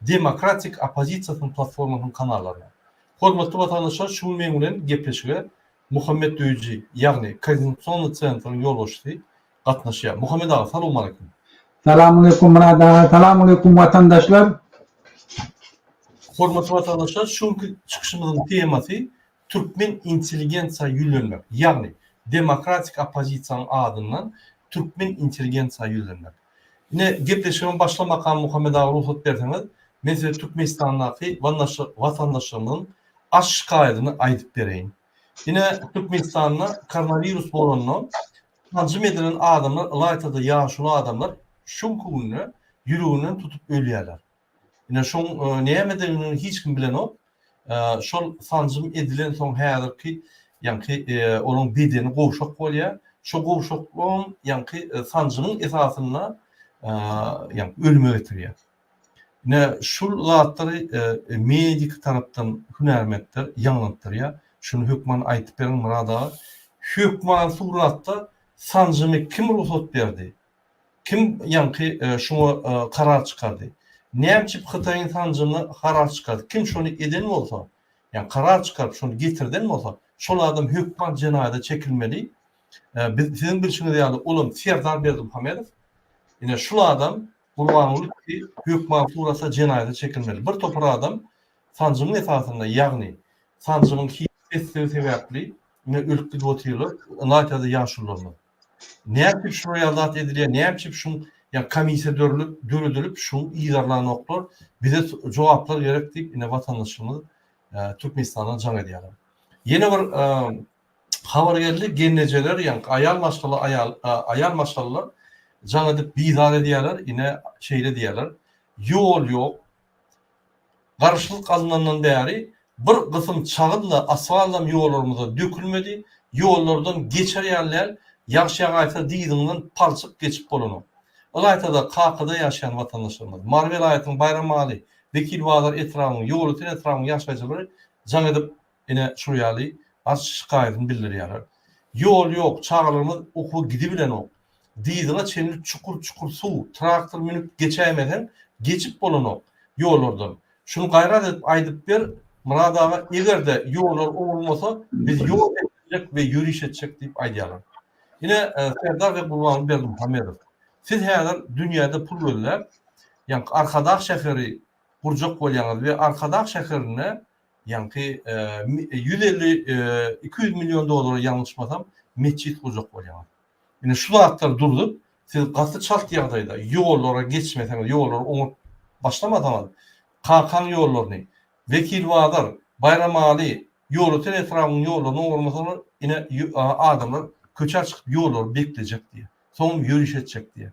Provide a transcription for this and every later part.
demokratik oppozisiýasynyň platformasynyň kanallaryna. Hormatly watandaşlar şu gün meň bilen gepleşige Muhammet Döýüji, ýagny Koordinasionnyý Centryň ýolbaşçysy gatnaşýar. Muhammet aga, salowmaleýkum! Salamaleýkum Myrat aga, salamaleýkum watandaşlar! Hormatly watandaşlar, şu günki çykyşymyzyň temasy Türkmen intelligentsiýa ýüzlenmek, ýagny demokratik oppozisiýanyň adyndan Türkmen intelligentsiýa ýüzlenmek. Ine, gepleşigiň başlamakan Muhammet aga rugsat berseňiz, men size Türkmenistandaky watandaşlarymyzyň aç şikaýadyny aýdyp bereýin. Ine, Türkmenistanda koronawirus bolandan sanjym edilen adamlar ylaýta-da ýaşuly adamlar şu günki günde ýüreginden tutup ölýärler. Ine şoň nämedigini hiç kim bilenok. Şol sanjym edilensoň häzirki ýaňky onuň bedeni gowşak bolýar. Şo gowşaklygyň ýaňky sanjymyň esasynda ýaňky ölüme getirýär. Ine şul zatlary medik tarapdan hünärmentler ýaňlantdyrýar. Şuny hökman aýtyp beriň Murad aga. Hökman suratda sanjymy kim rugsat berdi? Kim ýaňky şuňa karar çykardy? Nämçip Hytaýyň sanjymyna karar çykardy? Kim şony eden bolsa, ýa karar çykaryp şony getirden bolsa, şol adam hökman jenaýada çekilmeli. Biz siziň bilşiňiz ýaly olam Serdar Berdimuhamedow. Ine şul adam Gurbanguly ki hökman surata jenaýada çekilmeli. Bir topar adam sanjymyň esasynda ýagny sanjymyň hiç sessigi sebäpli ine ölüp gidip otyrlar. Latýada ýaşulylarymyz. Nätip şular ýazat edilýär, nätip şu ýa komissiýa dörülip döredilip şu yzarlanoklar bize jogaplar gerek diýip ine watandaşlarymyz Türkmenistana jaň edýärler. Ýene bir habar geldi gelnejeler ýa aýal maşgala aýal aýal maşgalalar jaň edip bizar edýärler ine şeýle diýýärler ýol ýok Garaşsyzlyk alynandan bäri bir gysym çagyn-da asfaltam ýollarymyzda dökülmedi, ýollardan geçer ýaly däl, ýagş ýagaýsa dyzyňdan palçyk geçip bolanok. Ylaýta-da Kakyda ýaşaýan watandaşlarymyz, Mary welaýatynyň Baýramaly, Wekilbazar etrabynyň, Ýolöten etrabynyň ýaşaýjylary jaň edip ine, şul ýaly arz-şikaýatyny bildirýärler. Ýol ýok, çagalarymyz okuwa gidibilenok. Dyzyňa çenli çukur-çukur suw, traktor münüp geçäýmeseň, geçip bolanok ýollardan. Şuny gaýrat edip aýdyp ber, Myrat aga, eger-de ýollar owrulmasa, biz ýol etdirjek we ýöriş etjek diýip aýdýarlar. Ine, Serdar we Gurbanguly Berdimuhamedow, siz häzir dünýäde pul gözläp, ýaňky Arkadag şäheri gurjak bolýaňyz we Arkadag şäherinde Ýaňky ýüz elli, iki ýüz million dollara ýalňyşmasam metjit gurjak bolýaňyz. Ine şu zatlar durzup, siz gaty çalt ýagdaýda ýollara geçmeseňiz, ýollary oňat başlamasaňyz, Kakaň ýollaryny, Wekilbazar, Baýramaly, Ýolöten etrabynyň ýollaryny oňarmasaňyz, ine adamlar köçä çykyp ýollary beklejek diýýär. Soňam ýöriş etjek diýýär.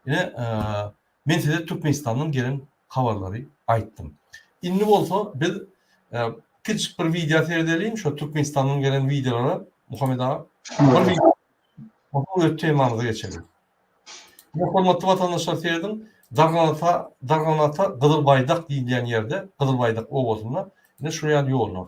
Ine Men size Türkmenistandan gelen habarlary aýtdym. Indi bolsa biz kiçijik bir wideo seredeliň, şo Türkmenistandan gelen wideolara Muhammet aga. Bir wideo. Öz temamyza geçeliň. Ýa hormatly watandaşlar serediň, Darganata, Darganata Gyzyl Baýdak diýilýän ýerde, Gyzyl Baýdak obasynda ine şu ýaly ýollar.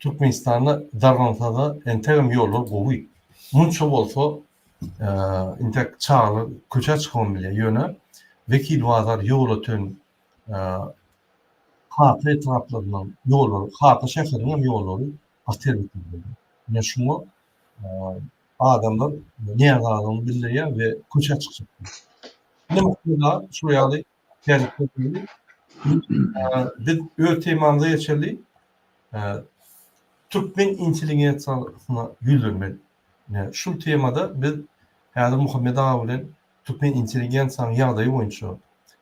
Türkmenistanda dargansada entegem ýollar gowy. Munça bolsa intek çagalar köçä çykybam bilýär. Ýöne Wekil bazar ýola ten Kaka etraplaryndan ýollary, Kaka şäheriniňem ýollary gaty erbet bolýar. Ine şuňa adamlar närazylygyny bildirýär we köçä çykýar. Ine şular ýaly Biz öz temamyza geçeli. Türkmen intelligensiýasyna ýüzlenmeli. Şu temada biz häzir Muhammet aga bilen türkmen intelligensiýanyň ýagdaýy boýunça,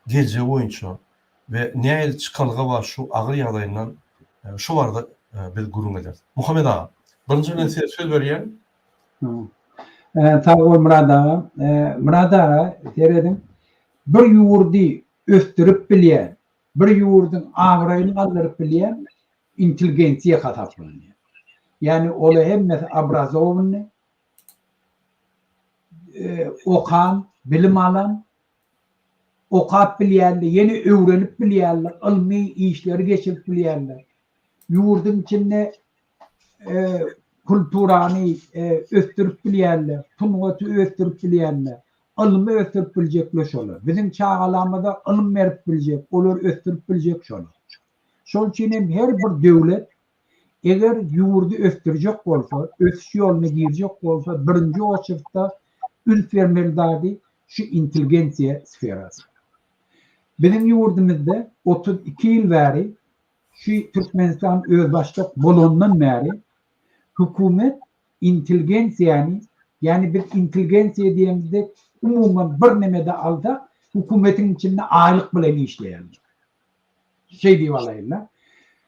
geljegi boýunça we nähili çykalga bar şu agyr ýagdaýyndan şu barada biz gürrüň ederis. Muhammet aga, birinji bilen size söz berýän. Sag bol Murad aga. Murad aga, serediň. Bir ýurdy ösdürip bilýän, bir ýurduň abraýyny galdyryp bilýän intelgensiýa hasaplanýar. Ýagny ola hemmesi obrazowanyny, okan, bilim alan, okap bilýänler, ýene öwrenip bilýänler, ylmy işleri geçirip bilýänler. Ýurduň içinde kulturany ösdürip bilýänler, sungaty ösdürip bilýänler, ylmy ösdürip biljekler şolar. Biziň çagalarymyza ylym berip biljek, olary ösdürip biljek şolar. Şol üçin hem her bir döwlet eger ýurdy ösdürjek bolsa, ösüş ýoluna girjek bolsa, birinji oçurtda üns bermeli zady şu intelligensiýa sferasy. Biziň ýurdumyzda otuz iki ýyl bäri Şu Türkmenistan özbaşdak bolandan bäri hökümet intelgensiýany, ýani biz intelgensiýa diýemizde umuman bir neme-de alsak, hökümetiň içinde aýlyk bilen işleýärler. Şeý diýip alaýyn-da.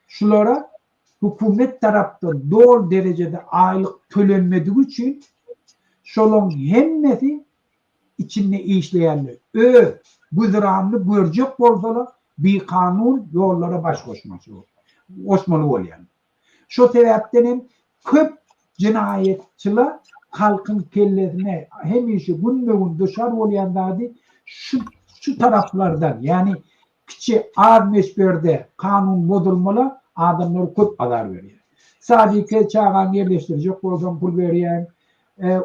Şulara hökümet tarapdan doly derejede aýlyk tölenmedigi üçin şolaryň hemmesi içinde işleýänler öz güzeranyny görjek bolsalar, bikanun ýollara baş goşmaly bolýarlar. Şo sebäpden hem köp jenaýatçylar halkyň kellesine hemişe günbe-gün duşar bolýan zady şu şu taraplardan, ýagny Kiçi az möçberde kanun bozulmalar adamlara köp azar berýär. Sadike çagaňy ýerleşdirjek bolsaň pul berýäň,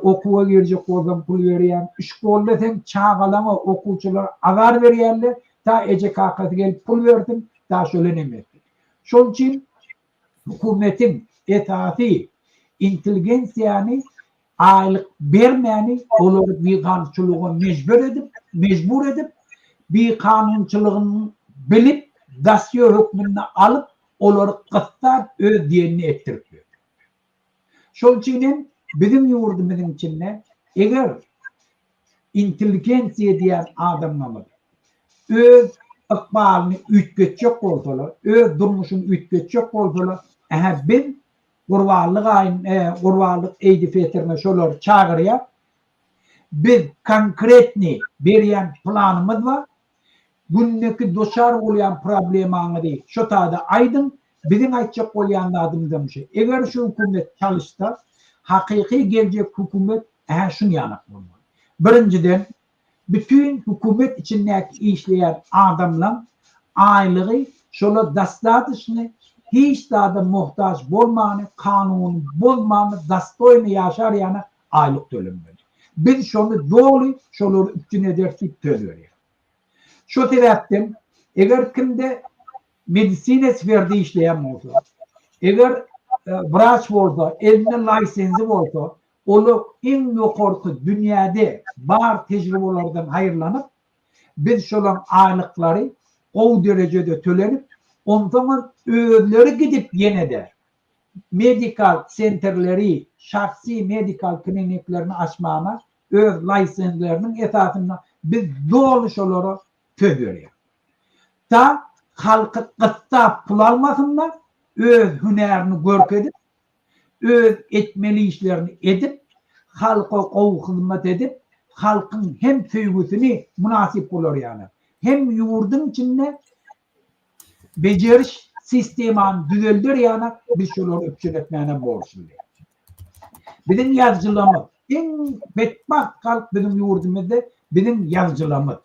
okuwa girjek bolsaň pul berýäň, şkolda seň çagalaňa okuwçylar azar berýärler, ta eje-kakasy gelip pul bersin, ta şola nem etsin. Şol üçin hukumetiň esasy intelgensiýany aýlyk bermäni olary bikanunçylyga mejbur edip, mejbur edip, bikanunçylygyny bilip, dosýe hökmünde alyp, olary gyssap, öz diýenini etdirip ýör. Şol üçin hem biziň ýurdumyzyň içinde eger intelligensiýa diýen adamlarymyz öz ykbalyny üýtgetjek bolsalar, öz durmuşyny üýtgetjek bolsalar, ähä biz Gurbanly gaýyn e gurbanlyk eýdi Petrine şolary çagyrýar. Biz konkretny berýän planymyz bar. Gündeki doçar bolýan problemaňyzy şo taýda aýdyň. Biziň aýtjak bolýan zadymyzam şu. Eger şu hökümet çalyşsa, hakyky geljek hökümet hä şuny ýanak bolmaly. Birinjiden Bütin hökümet içindäki işleýän adamlaň aýlygy şolar dastadyşny hiç zada mohtaç bolmany kanuny bozmany dastoýny ýaşar ýana aýlyk tölemeli. Biz şony doly şolary üpjün ederis diýip söz berýär. Şo sebäpden eger kimde medisina sferde işleýän bolsa, eger wraç bolsa, elinde laýsenzi bolsa, Olar iň ýokarsy dünýäde bar tejribelerden haýyrlanyp, biz şolaň aýlyklary gowy derejede tölenip, onsoňam özleri gidip ýene-de medikal senterleri, şahsy medikal kliniklerini açmana öz laýsenzleriniň esasynda biz doly şolara söz berýäs. Ta halky gyssap pul almasynlar, öz hünärini görkezip, öz etmeli işlerini edip, halka gowy hyzmat edip, halkyň hem söýgüsini mynasyp gularýarlar, hem ýurduň içinde bejeriş sistemany düzelder ýaly biz şolary üpjün etmäne borçludyr. Biziň ýazyjylarymyz, iň betbagt halk biziň ýurdumyzda biziň ýazyjylarymyz.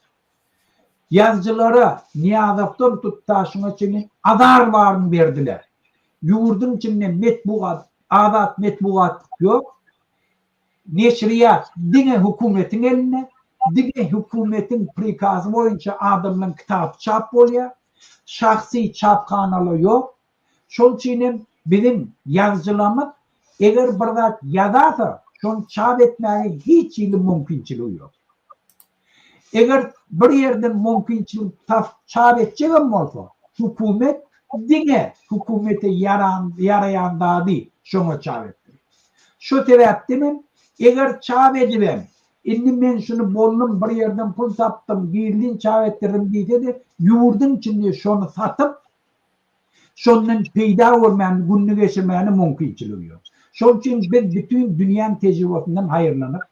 Ýazyjylara, Nyýazowdan Tutdaşyňa çenli azar baryny berdiler. Ýurduň içinde metbugat, azat metbugat ýok. Neşirýat diňe hökümetiň elinde. Diňe hökümetiň prikazy boýunça adamlaryň kitaby çap bolýar. Şahsy çaphanalar ýok. Şol üçin hem biziň ýazyjylarymyz eger bir zat ýazarsa, şony çap etmäge hiç hili mümkinçiligi ýok. Eger bir ýerden mümkinçilik tapyp çap etjegem bolsa, hökümet diňe hökümete ýaraýan zady şoňa çap etdirir. Şo sebäpden hem eger çap edibem, indi men şuny boldum, bir ýerden pul tapdym, gizlin çap etdirdim diýse-de, ýurduň içinde şony satyp, Şondan peýda görmäni, gününi geçirmäne mümkinçiligi ýok. Şol üçin biz bütin dünýäň tejribesinden haýyrlanyp,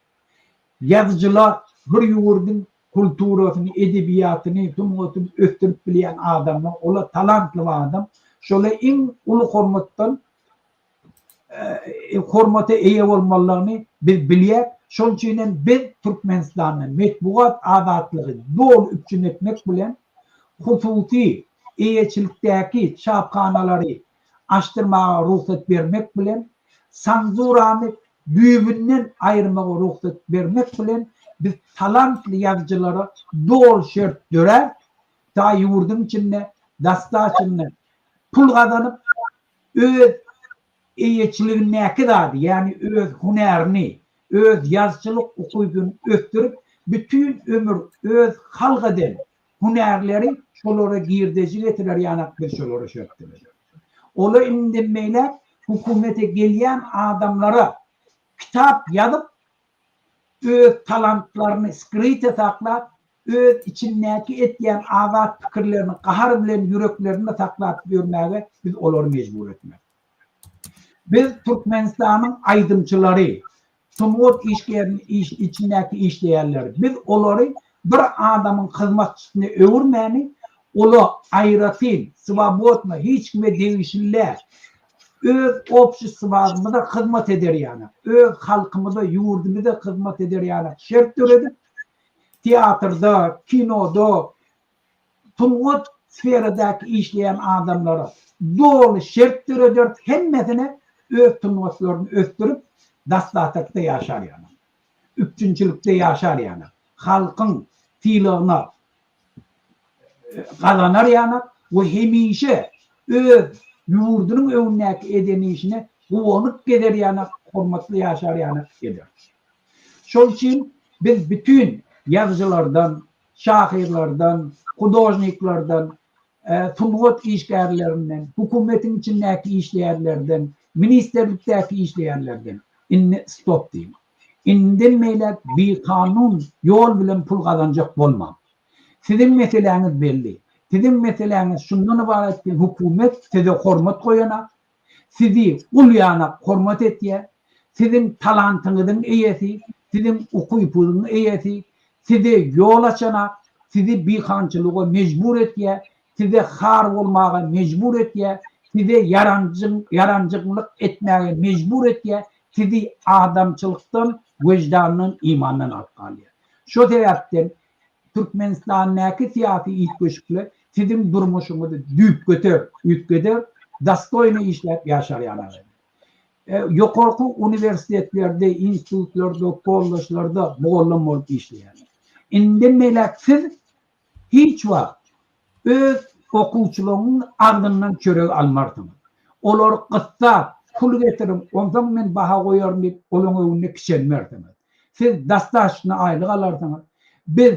ýazyjylar, bir ýurduň kulturasyny, edebiýatyny, sungatyny ösdürip bilýän adamlar, olar talantly adam, şola iň uly hormatdan hormata eýe bolmalydygyny biz bilýäs. Şonuň üçin hem biz Türkmenistanda metbugat azatlygy doly üpjün etmek bilen, hususy eýeçilikdäki çaphanalary açdyrmaga rugsat bermek bilen, senzurany düýbünden aýyrmaga rugsat bermek bilen, biz talantly ýazyjylara doly şert döräp, ýurduň içinde dastaşynda pul gazanyp, öz eýeçiligindäki zady, ýagny öz hünärini, öz ýazyjylyk ukybyny ösdürip, bütin ömür öz halk eden hünärleri şolara girdeji getirer ýanak biz şolara şöp diňeşeris. Ola indinmeýläk hökümete gelýän adamlara kitap ýazyp, öz talantlaryny skryte saklap, öz içindäki etýän azat pikirlerini gahar bilen ýüreklerinde saklap ýörmäge biz olary mejbur etmeli. Biz Türkmenistanyň aýdymçylary, sungat işgerini içindäki işleýänleri, biz olary bir adamyň hyzmatçysyna öwürmäni, ola aýratyn, swobodno, hiç kime degişli däl, Öz obşestwamyza hyzmat eder ýaly, öz halkymyza, ýurdumyza hyzmat eder ýaly şert döredip, teatrda, kinoda, sungat sferadaky işleýän adamlara doly şert dörederis, hemmesine öz sungatlaryny ösdürip, dastatykda ýaşar ýaly, üpjünçilikde ýaşar ýaly, halkyň sylagyna, gazanar ýanak we hemişe öz ýurdunyň öňündäki eden işine guwanyp gezer ýanak, hormatly ýaşar ýanak eder. Şol üçin biz bütin ýazyjylardan, şahyrlardan, hudožniklerden, sungat işgärlerinden, hökümetiň içindäki işleýärlerden, ministrlikdäki işleýärlerden indi stop diýmek. Indem beýläk bikanun ýol bilen pul gazanjak bolmaň. Siziň meseläňiz belli. Siziň meseläňiz şundan ybarat ki hukumet size hormat goýanak, sizi gul ýanak hormat etýä, siziň talantyňyzyň eýesi, siziň ukypygyň eýesi, size ýol açanak, sizi bikançylyga mejbur etýä, size har bolmaga mejbur etýär, size ýaranjyňlyk etmäge mejbur etýär, sizi adamçylykdan, wyždandan, imandan alyp galýar. Şo sebäpden Türkmenistandäki syýasy üýtgeşikler siziň durmuşyňyzy düýpgöter üýtgeder, dostoýno işläp ýaşar ýaly eder. Ýokarky uniwersitetlerde, institutlarda, kolležlarda mugallym bolup işleýäňiz. Indi melek siz Hiç wagt öz okuwçylaryňyň agzyndan çörek almarsyň. Olary gyssap, Pul getiriň, onsoň men baha goýaryn diýip, olaryň öňünde kiçelmersiňiz. Siz dastaşyna aýlyk alarsyňyz. Biz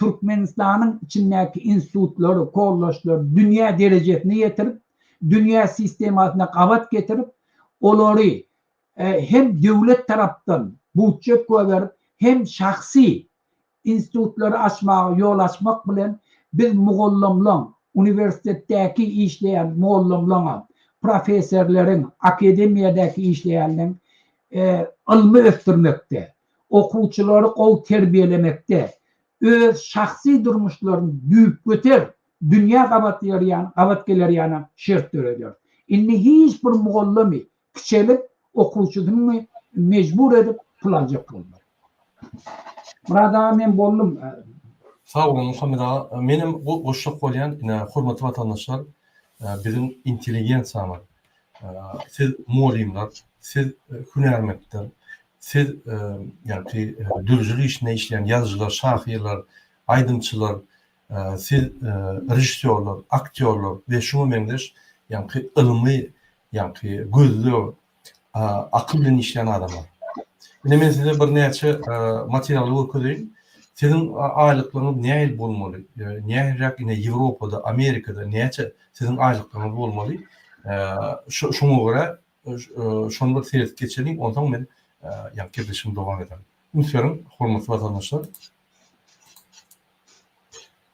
Türkmenistanyň içindäki institutlary, kollejleri dünýä derejesine ýetirip, dünýä sistemasyna gabat getirip, olary hem döwlet tarapdan budjet goýberip, hem şahsy Institutlary açmaga ýol açmak bilen, biz mugallamlaň, uniwersitetdäki işleýän mugallamlaňam, professorleriň, akademiýadäki işleýänleň ylmy ösdürmekde, okuwçylary gowy terbiýelemekde, öz şahsy durmuşlaryny düýpgöter dünýä gabat ýörýän, gabat gelerýana şert döredýäris. Indi hiç bir mugallamy Kiçelik okuwçysyny mejbur edip pul aljak boldular. Myrat aga men boldum. Sag boluň Muhammet aga. Menem goşjak bolýan ine hormatly watandaşlar biziň intelligensiýamyz siz mugallymlar siz hünärmentler siz ýagty dürüjilik işinde işleýän ýazyjylar şahyrlar aýdymçylar Siz režissýorlar, aktýorlar we şuňa meňzeş ýaňky ylmy ýaňky gözleg, akyl bilen işleýän adamlar. Indi men size birnäçe materialy görkezeýin. Siziň aýlyklaryňyz nähili bolmaly? Nähiliräk ine Ýewropada, Amerikada näçe siziň aýlyklaryňyz bolmaly? Şoňa görä Şony bir seredip geçeliň, onsoň men ýa gepleşigimi dowam ederin. Üns beriň, hormatly watandaşlar.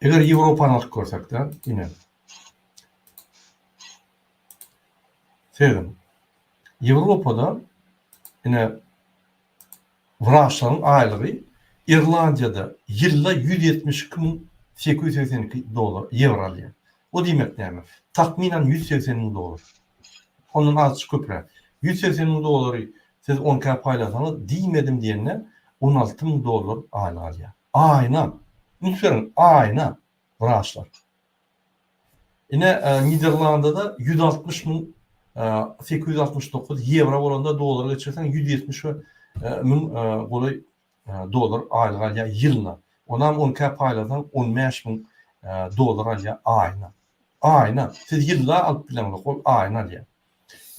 Eger Ýewropany alyp görsek-de, ine. Serediň. Ýewropada ine Wraçlaryň aýlygy Irlandiýada ýylda ýüz ýetmiş iki müň sekiz ýüz segsen iki dollar, ýewro, alýar. Bu diýmek näme? Takmynan ýüz segsen müň dollar. Ondan azajyk köpräk. Ýüz segsen müň dollary siz on ikä paýlasaňyz, diýmedim diýende, on alty müň dollar aýlyk alýar. Aýyna! Üns beriň, aýyna, wraçlar! Ine, Niderlandyda ýüz altmyş müň sekiz ýüz altmyş dokuz ýewro bolanda dollara geçirseň ýüz ýetmiş müň golaý dollar aýlyk alýar ýylyna. Onam on ikä paýlasaň on bäş müň dollar alýar aýyna. Aýyna. Siz ýylla alyp bileňzok, ol aýyna alýar.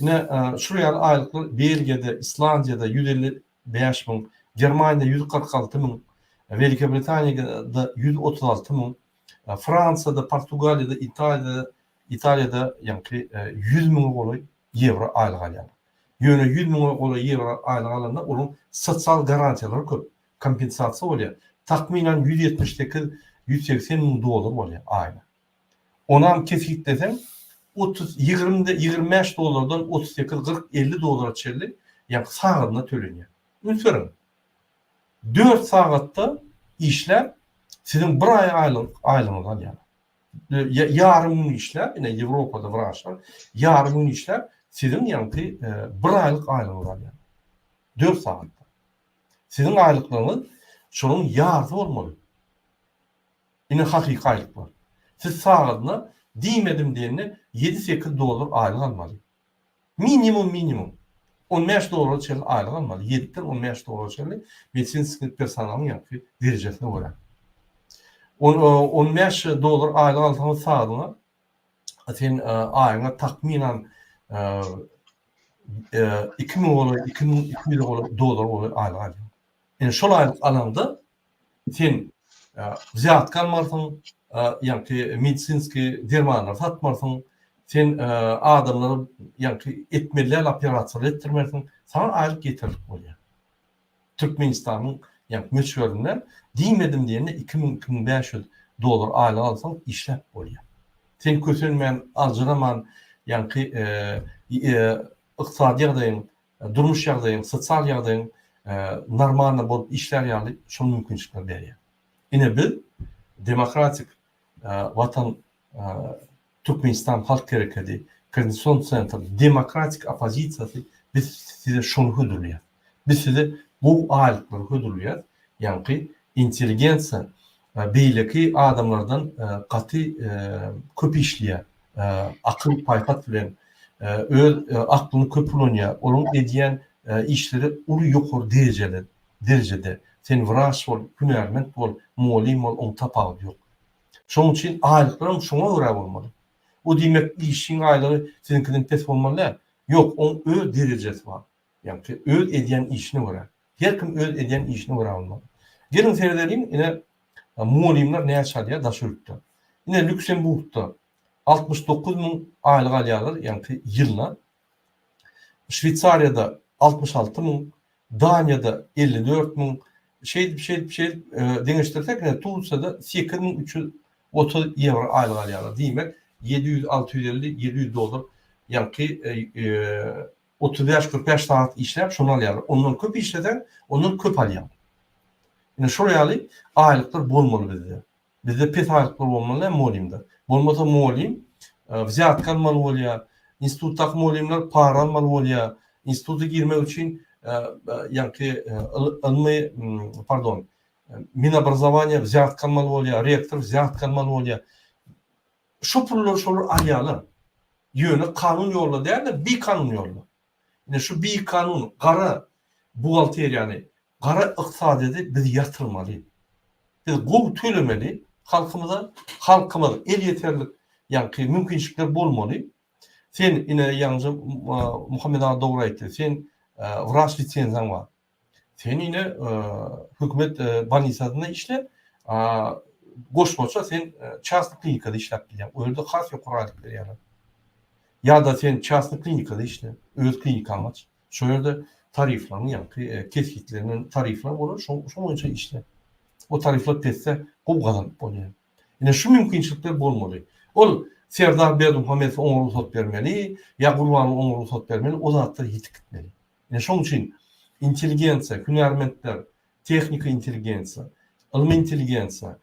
Ine, şular ýaly aýlyklar Belgiýada, Islandiýada ýüz elli bäş müň, Germaniýada ýüz kyrk alty müň, Welikiýa Britaniýada ýüz otuz alty müň, Fransiýada, Portugaliýada, Italiýada, Italiýada ýaňky ýüz müňe golaý ýewro aýlyk alýarlar. Ýöne ýüz müňe golaý ýewro aýlyk alanda onuň sosial garantiýalary köp, kompensasiýa bolýar. Takmynan ýüz ýetmiş sekiz, ýüz segsen müň dollar bolýar aýna. Onam kesgitleseň, otuz, ýigrimi, ýigrimi bäş dollardan otuz sekiz, kyrk, elli dollara çenli ýaňky saglygyna tölenýär. Üns beriň! Dört sagatda işläp, siziň bir aý aýlygyňyzy alýarlar. Ýa ýarym gün işläp, ine Ýewropada wraçlar ýarym gün işläp, siziň ýaňky bir aýlyk aýlygyňyzy alýarlar. Dört sagatda. Siziň aýlyklaryňyz şonuň ýarsy bolmaly. Ine hakyky aýlyklar. Siz sagadyna diýmedim diýende ýedi-sekiz dollar aýlyk almaly. Minimum minimum on bäş dollara çenli aýlyk almaly, ýediden on bäş dollara çenli medisinskiý personalyň ýaňky derejesine görä. On on bäş dollar aýlyk alsaňyz sagadyňa sen aýyňa takmynan iki müň iki müň iki ýüz dollar bolar aýlyk alýan. Indi şol aýlyk alanda Sen wzýatka almarsyň, ýaňky medisinskiý dermanlary satmarsyň, sen adamlara ýaňky etmelial operasiýalary etdirmersiň, saňa aýlyk ýeterlik bolýar. Türkmenistanyň ýaňky möçberinde diýmedim diýende iki müň, iki müň bäş ýüz dollar aýlyk alsaň işläp bolýar. Sen kösenmän, aljyraman ýaňky ykdysady ýagdaýyň durmuş ýagdaýyň, sosial ýagdaýyň normalny bolup işlär ýaly şol mümkinçilikleri berýär. Ine biz Demokratik watan Türkmenistan halk herekedi, Koordinasion sentr, demokratik oppozisiýasy biz size şony hödürleýär. Biz size gowy aýlyklary hödürleýär, ýaňky intelligensiýa beýleki adamlardan gaty köp işleýär, akyl-paýhas bilen öz aklyny köp ulanýar, onuň edýän işleri uly ýokary derejeli derejede, sen wraç bol, hünärment bol, mugallym bol, oň tapawudy ýok. Şoň üçin aýlyklaram şoňa görä bolmaly. Bu diýmek işiň aýlygy siziňkiden pes bolmaly däl. Ýok, oň öz derejesi bar. Ýagny ki öz edýän işine görä. Her kim öz edýän işine görä bolmaly. Geliň seredeliň ine mugallymlar näçe alýar daş ýurtda. Ine Lýuksemburgda altmyş dokuz müň aýlyk alýarlar ýagny ki ýylyna. Şweýsariýada altmyş alty müň, Daniýada elli dört müň şeýdip şeýdip şeýdip deňeşdirsek ine Tursiýada sekiz müň üç ýüz otuz ýewro aýlyk alýarlar. Diýmek ýedi ýüz alty ýüz elli ýedi ýüz dollar ýagny ki Otuz bäş, kyrk bäş sagat işläp, şony alýarlar. Ondan köp işleseň, ondan köp alýaň. Ine, şol ýaly aýlyklar bolmaly bizde. Bizde pes aýlyklar bolmaly däl mugallymda. Bolmasa mugallym wzýatka almaly bolýar. Institutdaky mugallymlar para almaly bolýar. Instituta girmek üçin ýaňky ylmy, pardon, Minobrazowaniýa wzýatka almaly bolýar, rektor wzýatka almaly bolýar. Şo pullary şolar alýarlar. Ýöne kanun ýolda däl-de, bikanun ýolda. Ine, şu bikanun gara buhgalteriýany, gara ykdysadyýeti biz ýatyrmaly. Biz gowy tölemeli halkymyza. Halkymyz elýeterlik ýaňky mümkinçilikler bolmaly. Sen, ine, ýaňja Muhammet aga dogry aýtdy. Seň wraç lisenziýaň bar. Sen ine hökümet bolnisasynda işle, goşmaça sen çasny klinikada işläp bilýäň. Ol ýerde has ýokary aýlyk berýärler. Ýa-da sen çasny klinikada işle, öz klinikaňy aç. Şol ýerde tariflaryň ýaňky kesgitlenen tarifler bolar, şoň şoň boýunça işle. O tarifler pesde gowy gazanyp bolýar. Ine şu mümkinçilikler bolmaly. Ol Serdar Berdimuhamedow oňa rugsat bermeli, ýa Gurbanguly oňa rugsat bermeli, o zatlar ýitip gitmeli. Ine şonuň üçin intelligensiýa, hünärmentler, tehniki intelligensiýa, ylmy intelligensiýa,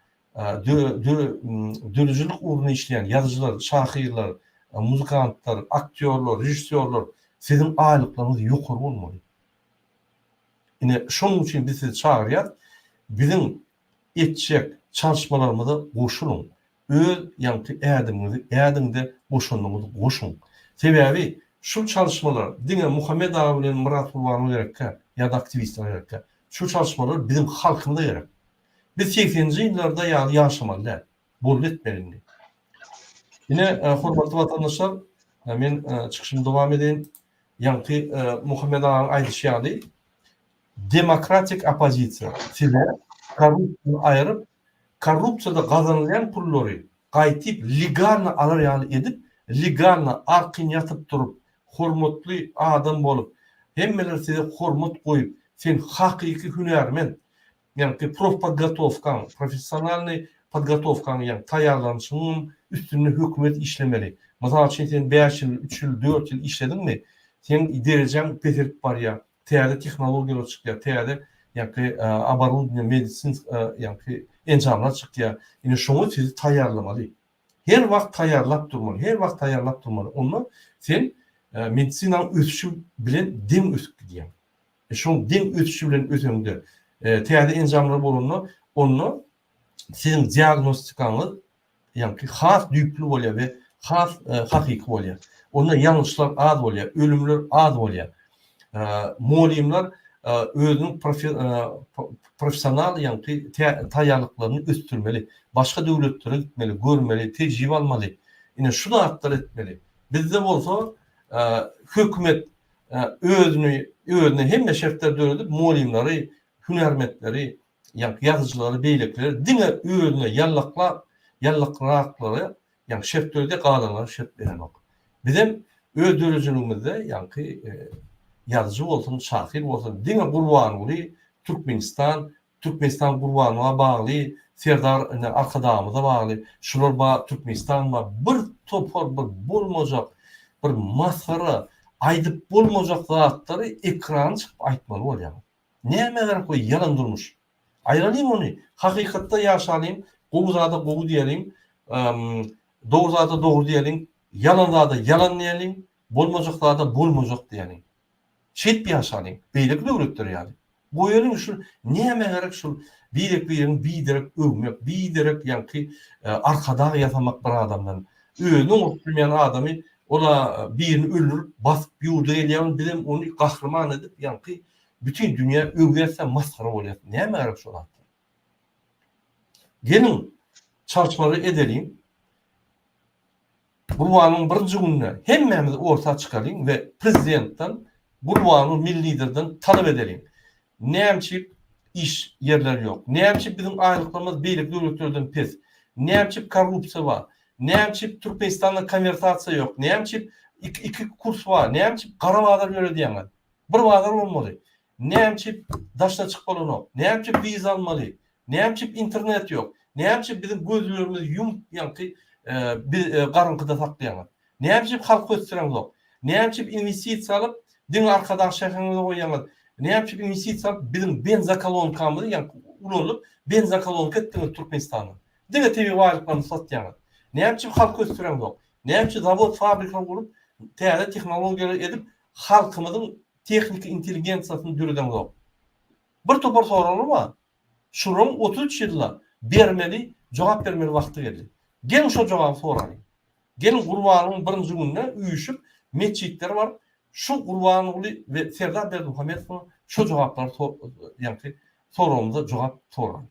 döredijilik ugrunda işleýän ýazyjylar, şahyrlar, muzykantlar, aktýorlar, režissýorlar, siziň aýlyklaryňyz ýokary bolmaly. Ine şonuň üçin biz sizi çagyrýarys. Biziň etjek çalyşmalarymyza goşulyň. Öz ýaňky ädimiňizi ädiň-de goşanyňyzy goşuň. Sebäbi şu çalyşmalar diňe Muhammet aga bilen Myrat Gurbanowa gerekkä ýa-da aktiwistlere gerekkä. Şu çalyşmalar biziň halkymyza gerek. Biz segseninji ýyllarda ýaly ýaşamaly däl. Boldy etmeli indi. Ine, hormatly watandaşlar, men çykyşymy dowam edeýin. Ýaňky Muhammet agaň aýdyşy ýaly, demokratik oppozisiýa size korrupsiýany aýryp, korrupsiýada gazanylýan pullary gaýtyp legalny alar ýaly edip, legalny, arkin ýatyp turup, hormatly adam bolup, hemmeler size hormat goýup, sen hakyky hünärmen, ýagny seň profpodgotowkaň, professionalnyý podgotowkaň, ýagny taýýarlanyşyňyň üstünde hökümet işlemeli. Mysal üçin sen bäş ýyl, üç ýyl, dört ýyl işlediňmi, seň derejaň peselip barýar. täze tehnologiýalar çykýar, täze ýaňky oborudnýa, medisinsk ýaňky enjamlar çykýar. Ine şoňa sizi taýýarlamaly. Her wagt taýýarlap durmaly, her wagt taýýarlap durmaly. Onda sen medisinanyň ösüşi bilen deň ösüp gidýäň. Şoň deň ösüşi bilen öseňde, täze enjamlar bolanda, onda siziň diagnostikaňyz ýaňky has düýpli bolýar we has hakyky bolýar. Onda ýalňyşlar az bolýar, ölümler az bolýar. Mugallymlar özüniň professional ýaňky taýýarlyklaryny ösdürmeli, başga döwletlere gitmeli, görmeli, tejribe almaly. Ine şu zatlary etmeli. Bizde bolsa hökümet özüni özüne hemme şertleri döredip mugallymlary, hünärmentleri ýa ýazyjylary beýlekileri diňe özüne ýallaklap ýallakraklary ýa şert berdi galanlara şert berenok. Bizem öz döredijiligimizde ýaňky ýazyjy bolsun şahyr bolsun diňe Gurbanguly Türkmenistan Türkmenistan Gurbangulyga bagly Serdar ine Arkadagymyza bagly şular ba Türkmenistan ba bir topar bir bolmajak bir masgara aýdyp bolmajak zatlary ekrana çykyp aýtmaly bolýaňyz. Näme gerek bu ýalan durmuş. Aýralyň ony, hakykatda ýaşalyň, gowy zada gowy diýeliň, dogry zada dogry diýeliň, ýalan zada ýalan diýeliň, bolmajak zada bolmajak diýeliň. Şeýdip ýaşalyň, beýleki döwletler ýaly. Goýalyň şu näme gerek şul birek-biregiň biderek öwmek, biderek ýaňky arkadag ýasamak bir adamdan. Özüni oňurtp bilmeýän adamy ol-a birini öldürip basyp ýurda gelýär bizem ony gahryman edip ýaňky bütin dünýä öwýäsä masgara bolýas näme gerek şo zatdan. Geliň çalşmagy edeliň. Gurbanyň birinji gününe hemmämiz orta çykalyň we prezidentden Gurbanu milli liderden talap edeliň. Näme üçin iş ýerleri ýok? Näme üçin biziň aýlyklarymyz beýleki döwletlerden pes? Näme üçin korrupsiýa bar? Näme üçin Türkmenistanda konwertasiýa ýok? Näme üçin iki kurs bar? Näme üçin gara bazar ýöredýäňiz? Bir bazar bolmaly. Näme üçin daşda çyk bolanok? Näme üçin wiza almaly? Näme üçin internet ýok? Näme üçin biziň gözlerimizi ýumup ýaňky garynkyda saklaýaňyz? Näme üçin halky ösdüreňzok? Näme üçin inwestisiýa alyp diňe arkadag şäheriňize goýýaňyz? Näme üçin inwestisiýa alyp biziň benzokolonkamyzy ýaňky ulanyp benzokolonka etdiňiz Türkmenistany? Diňe tebigy baýlyklarymyzy satýaňyz. Näme üçin halky ösdüreňzok? Näme üçin zawod fabrika gurup täze tehnologiýalary edip halkymyzyň tehniki intelligensiýasyny döredeňzok? Bir topar soraglar bar. Şularyň otuz üç ýylda bermeli, jogap bermeli wagty geldi. Geliň şo jogaby soralyň. Geliň Gurbanlygyň birinji gününe üýşüp metjitlere baryp şu Gurbanguly we Serdar Berdimuhamedowa şo jogaplary so ýaňky soragymyza jogap soralyň.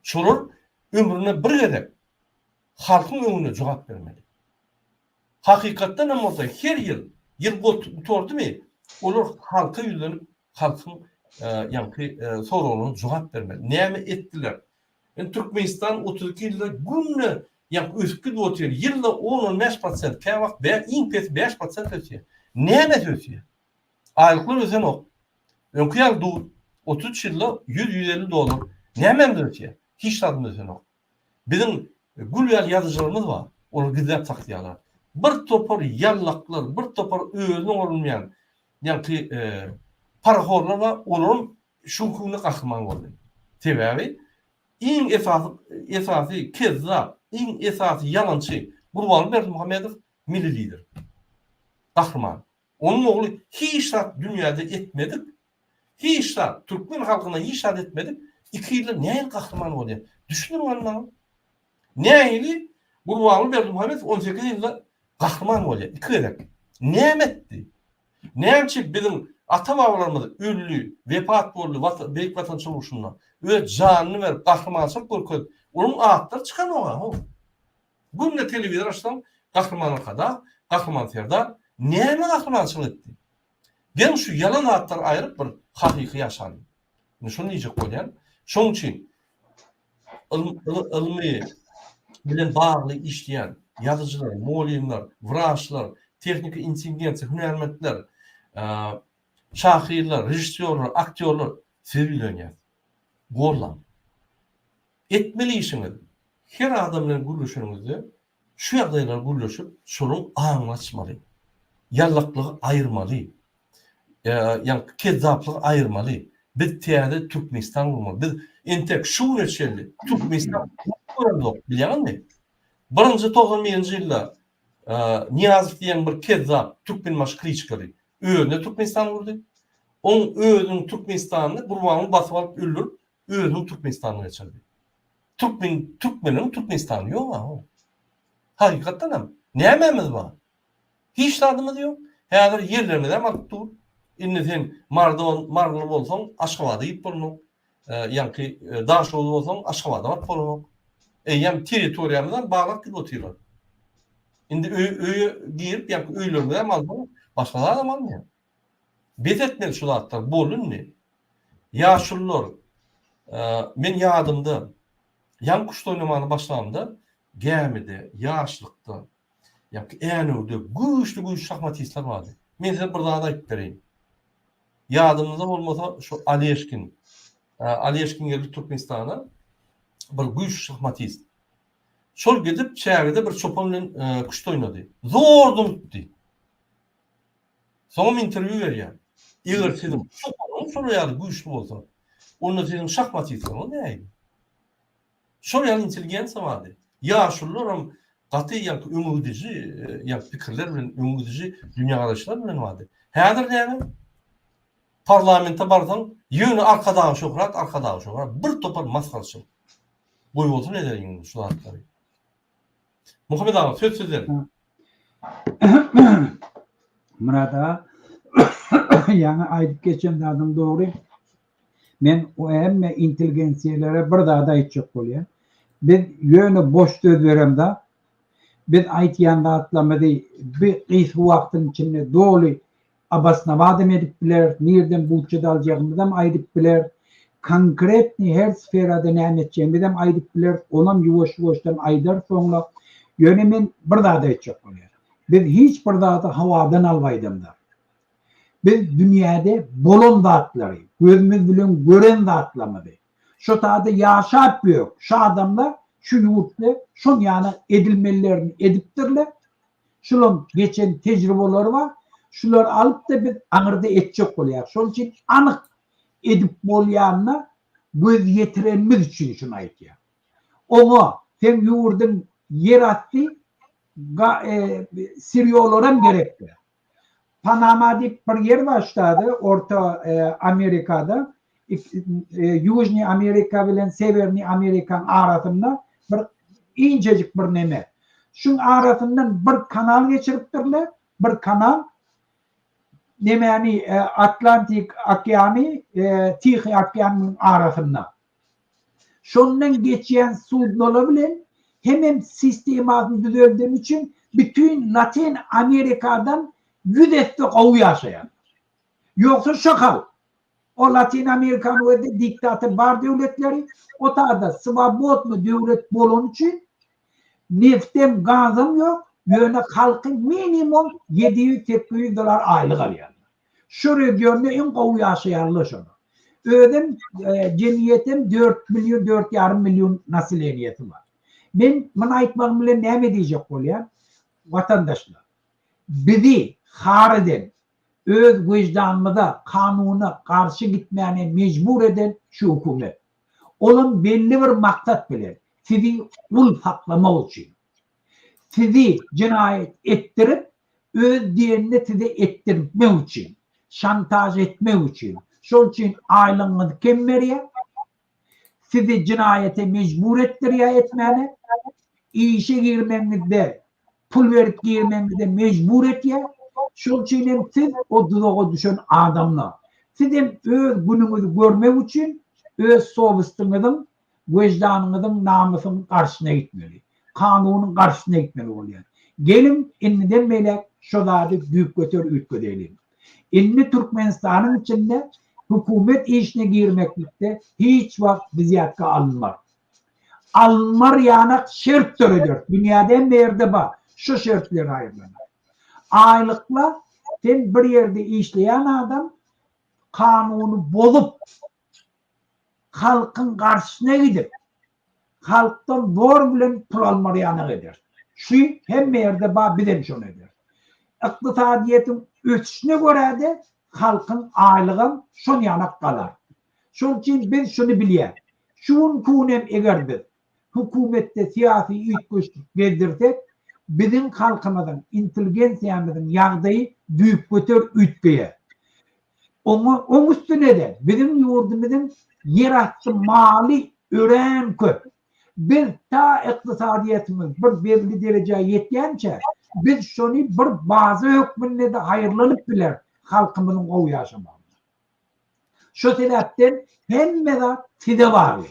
Şolar ömründe bir gezek halkyň öňünde jogap bermeli. Hakykatdan hem bolsa her ýyl, ýyl gutardymy olar halka ýüzlenip Halkyň ýaňky soraglaryna jogap bermeli. Näme etdiler? Indi Türkmenistan otuz iki ýylda günde ýaňky ösüp gidip otyr. Ýylda on-on bäş prosent, käwagt bä, iň pesi bäş prosent ösýär. Nämesi ösýär? Aýlyklar ösenok. Öňki ýaly dur. Otuz üç ýylda ýüz-ýüz elli dollar. Nämemiz ösýär? Hiç zadymyz ösenok. Biziň gül ýaly ýazyjylarymyz bar, olar gizläp saksaýarlar. Bir topar ýallaklar, bir topar özüne ugrulmaýan ýaňky parahorlar bar, olaram şuň künde gahryman boldy. Sebäbi iň esasy esasy kezzap, iň esasy ýalançy Gurbanguly Berdimuhamedow Milli Lider. Gahryman. Onuň ogly hiç zat dünýäde etmedik, hiç zat, türkmen halkyna hiç zat etmedik, iki ýylda nähili gahryman bolýar? Düşündiriň hany maňa. Nähili Gurbanguly Berdimuhamedow on sekiz ýylda gahryman bolýar, iki gezek? Näme etdi? Nämçe biziň ata-babalarymyz öldi, wepat boldy Watan, Beýik Watan söweşinde, öz janyny berip, gahrymançylyk görkezip, olaryň atlary çykanok-a, haw. Günde telewizor açsaň, Gahryman Arkadag, Gahryman Serdar näme gahrymançylyk etdi? Geň şu ýalan zatlary aýryp bir hakyky ýaşalyň. Indi şuny diýjek bolýan. Şoň üçin ylmy bilen bagly işleýän ýazyjylar, mugallymlar, wraçlar, tehniki intendensiýa, hünärmentler, şahyrlar, režissýorlar, aktýorlar size ýüzlenýär. Gollaň. Etmeli işiňiz, her adam bilen gürleşeniňizde şu ýagdaýlary gürleşip, şonuň aňyny açmaly. Ýallaklygy aýyrmaly. Ýa-ni kezzaplygy aýyrmaly. Biz täze Türkmenistan gurmaly. Biz entek şu güne çenli Türkmenistan gurup göremzok, bilýäňizmi? Birinji togsan birinji ýylda Nyýazow diýen bir kezzap türkmenbaşy kliçkady. Özüne Türkmenistan gurdy. Oň özüniň Türkmenistanyny Gurbanguly basyp alyp öldürip, Özüniň Türkmenistanyny geçirdi. Türkmen, Türkmenleriň Türkmenistany ýok aho. Hakykatdan hem. Nämemiz bar? Hiç zadymyz ýok. Häzir ýerlerimizi hem alyp dur. Indi sen Mardon, Marly bolsaň, Aşgabada gidip bolmak. E, ýanki e, Daşoguz bolsaň, Aşgabada baryp bolmak. Eýýäm territoriýamyzdan baglap gidip otyrlar. Indi öýe girip, ýa öýlerimize hem almaly, başga zat hem almaýar. Bes etmeli şu zatlar bol indi. Ýaşulylar men ýadymda ýaň kuşda oýnamana başlamda gämide ýaşlykda ýa-ki Änewde güýçli güýçli şahmatistler bardy. Men size bir zat aýyp bereýin. Ýadyňyzda bolmasa şu Aleşkin. Aleşkin geldi Türkmenistana bir güýçli şahmatist. Şol gidip çägede bir çopan bilen kuşda oýnady. Zor durupdy. Soňam interwýu berýär. Eger siziň şoparyňyz şolar ýaly güýçli bolsa, onda siziň şahmatistygyňyz nähili? Şol ýaly intelligensiýa bardy. Ýaşulularam gaty ýaňky öňegidiji ýaňky pikirler bilen, öňegidiji dünýägaraýyşlar bilen bardy. Häzir näme? Parlamente barsaň, ýöne Arkadagy Şöhrat, Arkadagy Şöhrat, bir topar masgarçylyk. Goýbolsun ederin indi şu zatlary. Muhammet aga söz sizden. Myrat aga ýaňy aýdyp geçen zadyň dogry. Men o hemme intelligensiýalere bir zat aýtjak bolýan. Biz ýöne boş söz beremda. Biz aýtýan zatlarymyzy bir gysga wagtyň içinde doly Obosnowatym edip biler, nirden budjet aljagymyzam aýdyp biler, konkretnyý her sferada näme etjegimizem aýdyp biler, onam ýuwaş-ýuwaşdan aýdar soňra. Ýöne men bir zady aýtjak bolýan. Biz hiç bir zady hawadan alyp aýdamzok. Biz dünýäde bolan zatlary, gözümiz bilen gören zatlamyzy, şo sada ýaşap ýörük, şu adamlar şu ýurtda şon ýana edilmelilerini edipdirler, Şularyň geçen tejribeleri bar. Şulary alyp-da biz aňyrda etjek bolýarys. Şonuň üçin anyk edip bolýanyna göz ýetirenimiz üçin şuny aýdýarys. Oňa seň ýurduň ýerasty ga e, sirýolaram gerekdir. Panama diýip bir ýer bar ştada, Orta Amerikada, Ýužnyý Amerika bilen Sewernyý Amerikaň arasynda bir inçejik bir neme. Şuň arasyndan bir kanal geçiripdirler, bir kanal nemäni Atlantik okeany, Tihi okeanyň arasynda. Şondan geçýän sudnolar bilen hemem sistemasyny düzeldeni üçin bütin Latyn Amerikadan ýüz esse gowy ýaşaýarlar. Ýogsa şo hal. O Latyn Amerikany we-de diktator bar döwletleri o taýda swobodny döwlet bolany üçin neftem, gazam ýok, ýöne halky minimum ýedi ýüz, sekgi ýüz dollar aýlyk alýarlar. Şu regionda iň gowy ýaşaýarlar şolar. Özem jemgyýetem dört million, dört ýarym million nasileniýesi bar. Men muny aýtmagym bilen näme diýjek bolýan? Watandaşlar, bizi har eden, öz wejdanymyza, kanuna garşy gitmäne mejbur eden şu hökümet. Olam belli bir maksat bilen, sizi gul saklamak üçin. Sizi jenaýat etdirip, öz diýenini size etdirtmek üçin, şantaž etmek üçin. Şol üçin aýlygyňyzy kem berýär. Sizi jenaýata mejbur etdirýär etmäne. Işe girmegiňizde, pul berip girmegiňize mejbur etýär. Şol üçin hem siz o duzaga düşen adamlar. Siz hem öz günüňizi görmek üçin, öz sowystyňyzyň weždanyňyzyň, namysyň garşyna gitmeli. Kanunyň garşyna gitmeli bolýar. Geliň, indiden beýläk şo zady düýpgöter üýtgedeýliň. Indi Türkmenistanyň içinde hökümet işine girmeklikde hiç wagt biz ýatga alynmar. Alynmar ýanak şert dörederis. Dünýäde hemme ýerde bar. Şo şertleri aýyrlanar. Aýlykla sen bir ýerde işleýän adam kanuny bozup, halkyň garşysyna gidip, halkdan zor bilen pul almagy ýanak eder. Şu hemme ýerde bar, biz hem şony ederis. Ykdysadyýetiň ösüşine görä-de halkyň aýlygam şon ýanak galar. Şonuň üçin biz şuny bilýäs, şu günki gün hem eger biz hökümetde syýasy üýtgeşlik gezdirsek, biziň halkymyzyň, intelligensiýamyzyň ýagdaýy düýpgöter üýtgeýär. Oňa, oň üstüne-de biziň ýurdumyzyň ýerasty maly örän köp. Biz ta ykdysadyýetimiz bir belli derejä ýetýänçä, biz şony bir baza hökmünde-de haýyrlanyp bileris halkymyzyň gowy ýaşamagyna. Şo sebäpden hemme zat size bagly.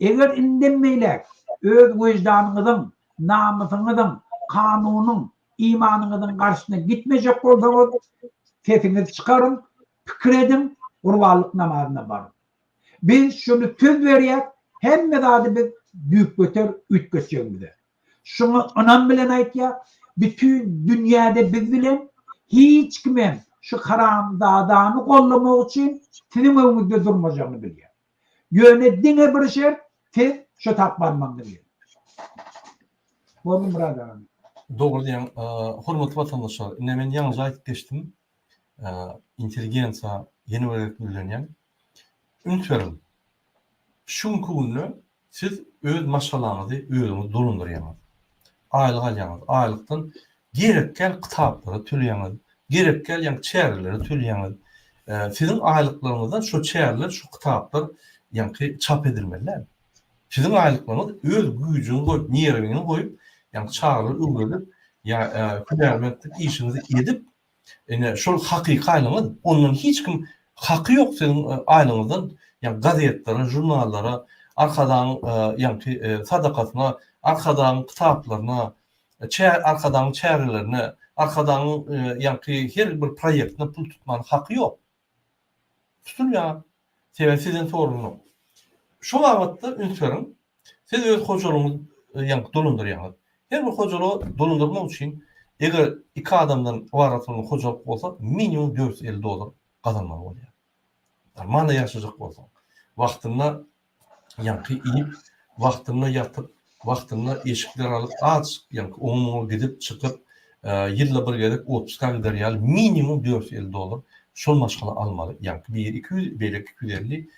Eger indem beýläk öz weždanyňyzyň, namysyňyzyň, kanunyň, imanyňyzyň garşysyna gitmejek bolsaňyz, sesiňizi çykaryň, pikir ediň, gurbanlyk namazyna baryň. Biz şuny söz berýäs, hemme zady biz düýpgöter üýtgetjegimize. Şuňa ynam bilen aýtýas, bütin dünýäde biz bilen hiç kimem şu haramzadany gollamak üçin siziň öňüňizde durmajagyny bilýär. Ýöne diňe bir şert, siz şu tap barmagyňy berin. Boldy Murad aga. Dogry diýýäň, hormatly watandaşlar. Ine men ýaňyja aýdyp geçdim. Intelligensiýa ýene bir gezek ýüzlenýän. Üns beriň. Şu günki günde Siz öz maşgalaňyzy özüňiz dolandyrýaňyz. Aýlyk alýaňyz. Aýlykdan gerekgäl kitaplara töleýäňiz, gerekgäl ýaňy çärelere töleýäňiz. Siziň aýlyklaryňyzdan şo çäreler, şo kitaplar ýaňky çap edilmeli däl. Siziň aýlyklaryňyz öz güýjüňi goýup, nerwiňi goýup, ýaňky çagalary öwredip, ýa hünärmentlik işiňizi edip, Ine şol hakyky aýlygyňyz, ondan hiç kim haky ýok siziň aýlygyňyzdan ýa gazetlere, žurnallara, Arkadagyň ýaňky sadakasyna, Arkadagyň kitaplaryna, Arkadagyň çärelerine, Arkadagyň ýaňky her bir proýektine pul tutmaga haky ýok. Tutuň ýa sebäbi sizden sorulnok. Şu babatda üns beriň, siz öz hojalygyňyzy ýaňky dolandyrýaňyz. Her bir hojalygy dolandyrmak üçin eger iki adamdan ybarat bolan hojalyk bolsa minimum dört ýüz elli dollar gazanmaly bolýar. Normalny ýaşajak bolsaň, wagtynda ýaňky iýip, wagtynda ýatyp, wagtynda eşikler alyp, aç, ýaňky oňa-muňa gidip, çykyp, ýylda bir gezek otpuska gider ýaly minimum dört ýüz elli dollar şol maşgala almaly. Ýaňky biri iki ýüz, beýleki iki ýüz elli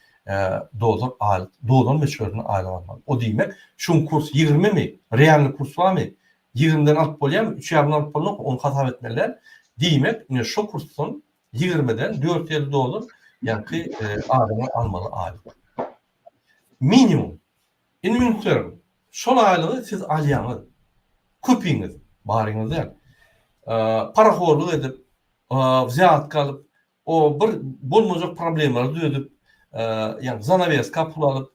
dollar aýlyk, dolar möçberinde aýlyk almaly. O diýmek, şu gün kurs ýigrimimi, realnyý kurs barmy, ýigrimden alyp bolýarmy, üç ýarymdan alyp bolunok, ony hasap etmeli däl. Diýmek, ine şo kursdan Ýigirmiden dört ýüz elli dollar ýaňky adamlar almaly aýlyk. Minimum. Indi meniň pikirim, şol aýlygy siz alýaňyz. Köpiňiz, baryňyz däl. Parahorlyk edip, wzýatka alyp, o bir bolmajak problemalary döredip, ýagny zanaweska pul alyp,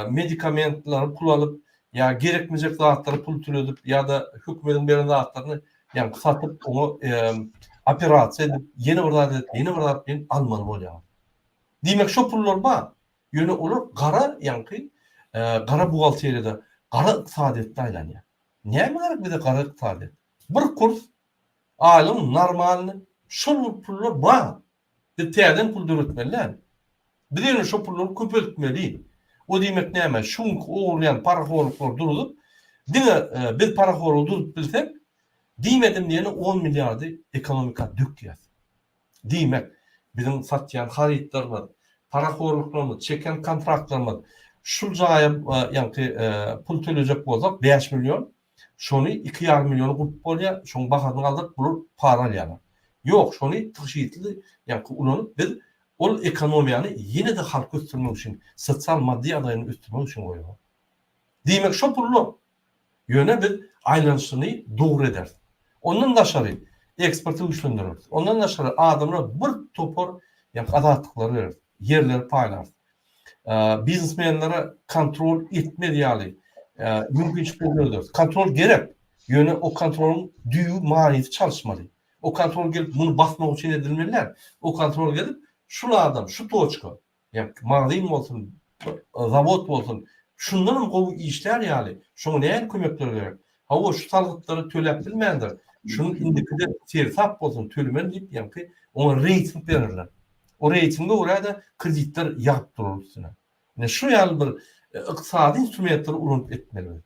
medikamentleri pul alyp ýa gerekmejek zatlary pul tüledip ýa-da hökümediň beren zatlaryny ýa satyp oňa operasiýa edip ýene bir zat edip ýene bir zat bilen almaly bolýar. Diýmek şo pullar bar. Ýöne olar gara ýaňky gara buhgalteriýada gara ykdysadyýetde aýlanýar. Näme gerek bize gara ykdysadyýet? Bir kurs aýlygyň normalny şol pullar bar. Biz täzeden pul döretmeli däl. Biz ýöne şo pullary köpeltmeli. O diýmek näme? Şu günki ogurlaýan parahorlyklary duruzyp, diňe biz parahorlygy duruzyp bilsek, diýmedim diýeli on milliardy ekonomika dökýäs. Diýmek, biziň satýan harytlarymyz, parahorlyklarymyz, çeken kontraktlarymyz, şul jaýa ýaňky pul tölejek bolsak bäş million, Şony iki ýarym milliona gurp bolýar, şoň bahasyny galdyryp bular para alýarlar. Ýok, şony tygşytly ýaňky ulanyp biz ol ekonomiýany ýene-de halky ösdürmek üçin, sosial maddy ýagdaýyny ösdürmek üçin goýarys. Diýmek şo pullar. Ýöne biz aýlanyşyny dogry ederis. Ondan daşary eksporty güýçlendireris. Ondan daşary adamlar bir topar ýaňky azatlyklary bereris, ýerleri paýlarys. biznesmenlere kontrol etmez ýaly mümkinçilikleri dörederiz. Kontrol gerek, ýöne o kontrolyň düýbi manysy çalyşmaly. O kontrol gelip muny basmak üçin edilmeli däl. O kontrol gelip şul adam, şu toçka, ýa magazin bolsun, zawod bolsun, şundanam gowy işlär ýaly, şoňa näme kömekler gerek? Hawa, şu salgytlary töläp bilmändir, şunuň indikide sersap bolsun, tölemeli diýip, ýaňky oňa reýting bererler. O reýtinge görä-de kreditler ýagyp durar üstüne. Ine, şu ýaly bir ykdysady instrumentleri ulanyp etmeli biz.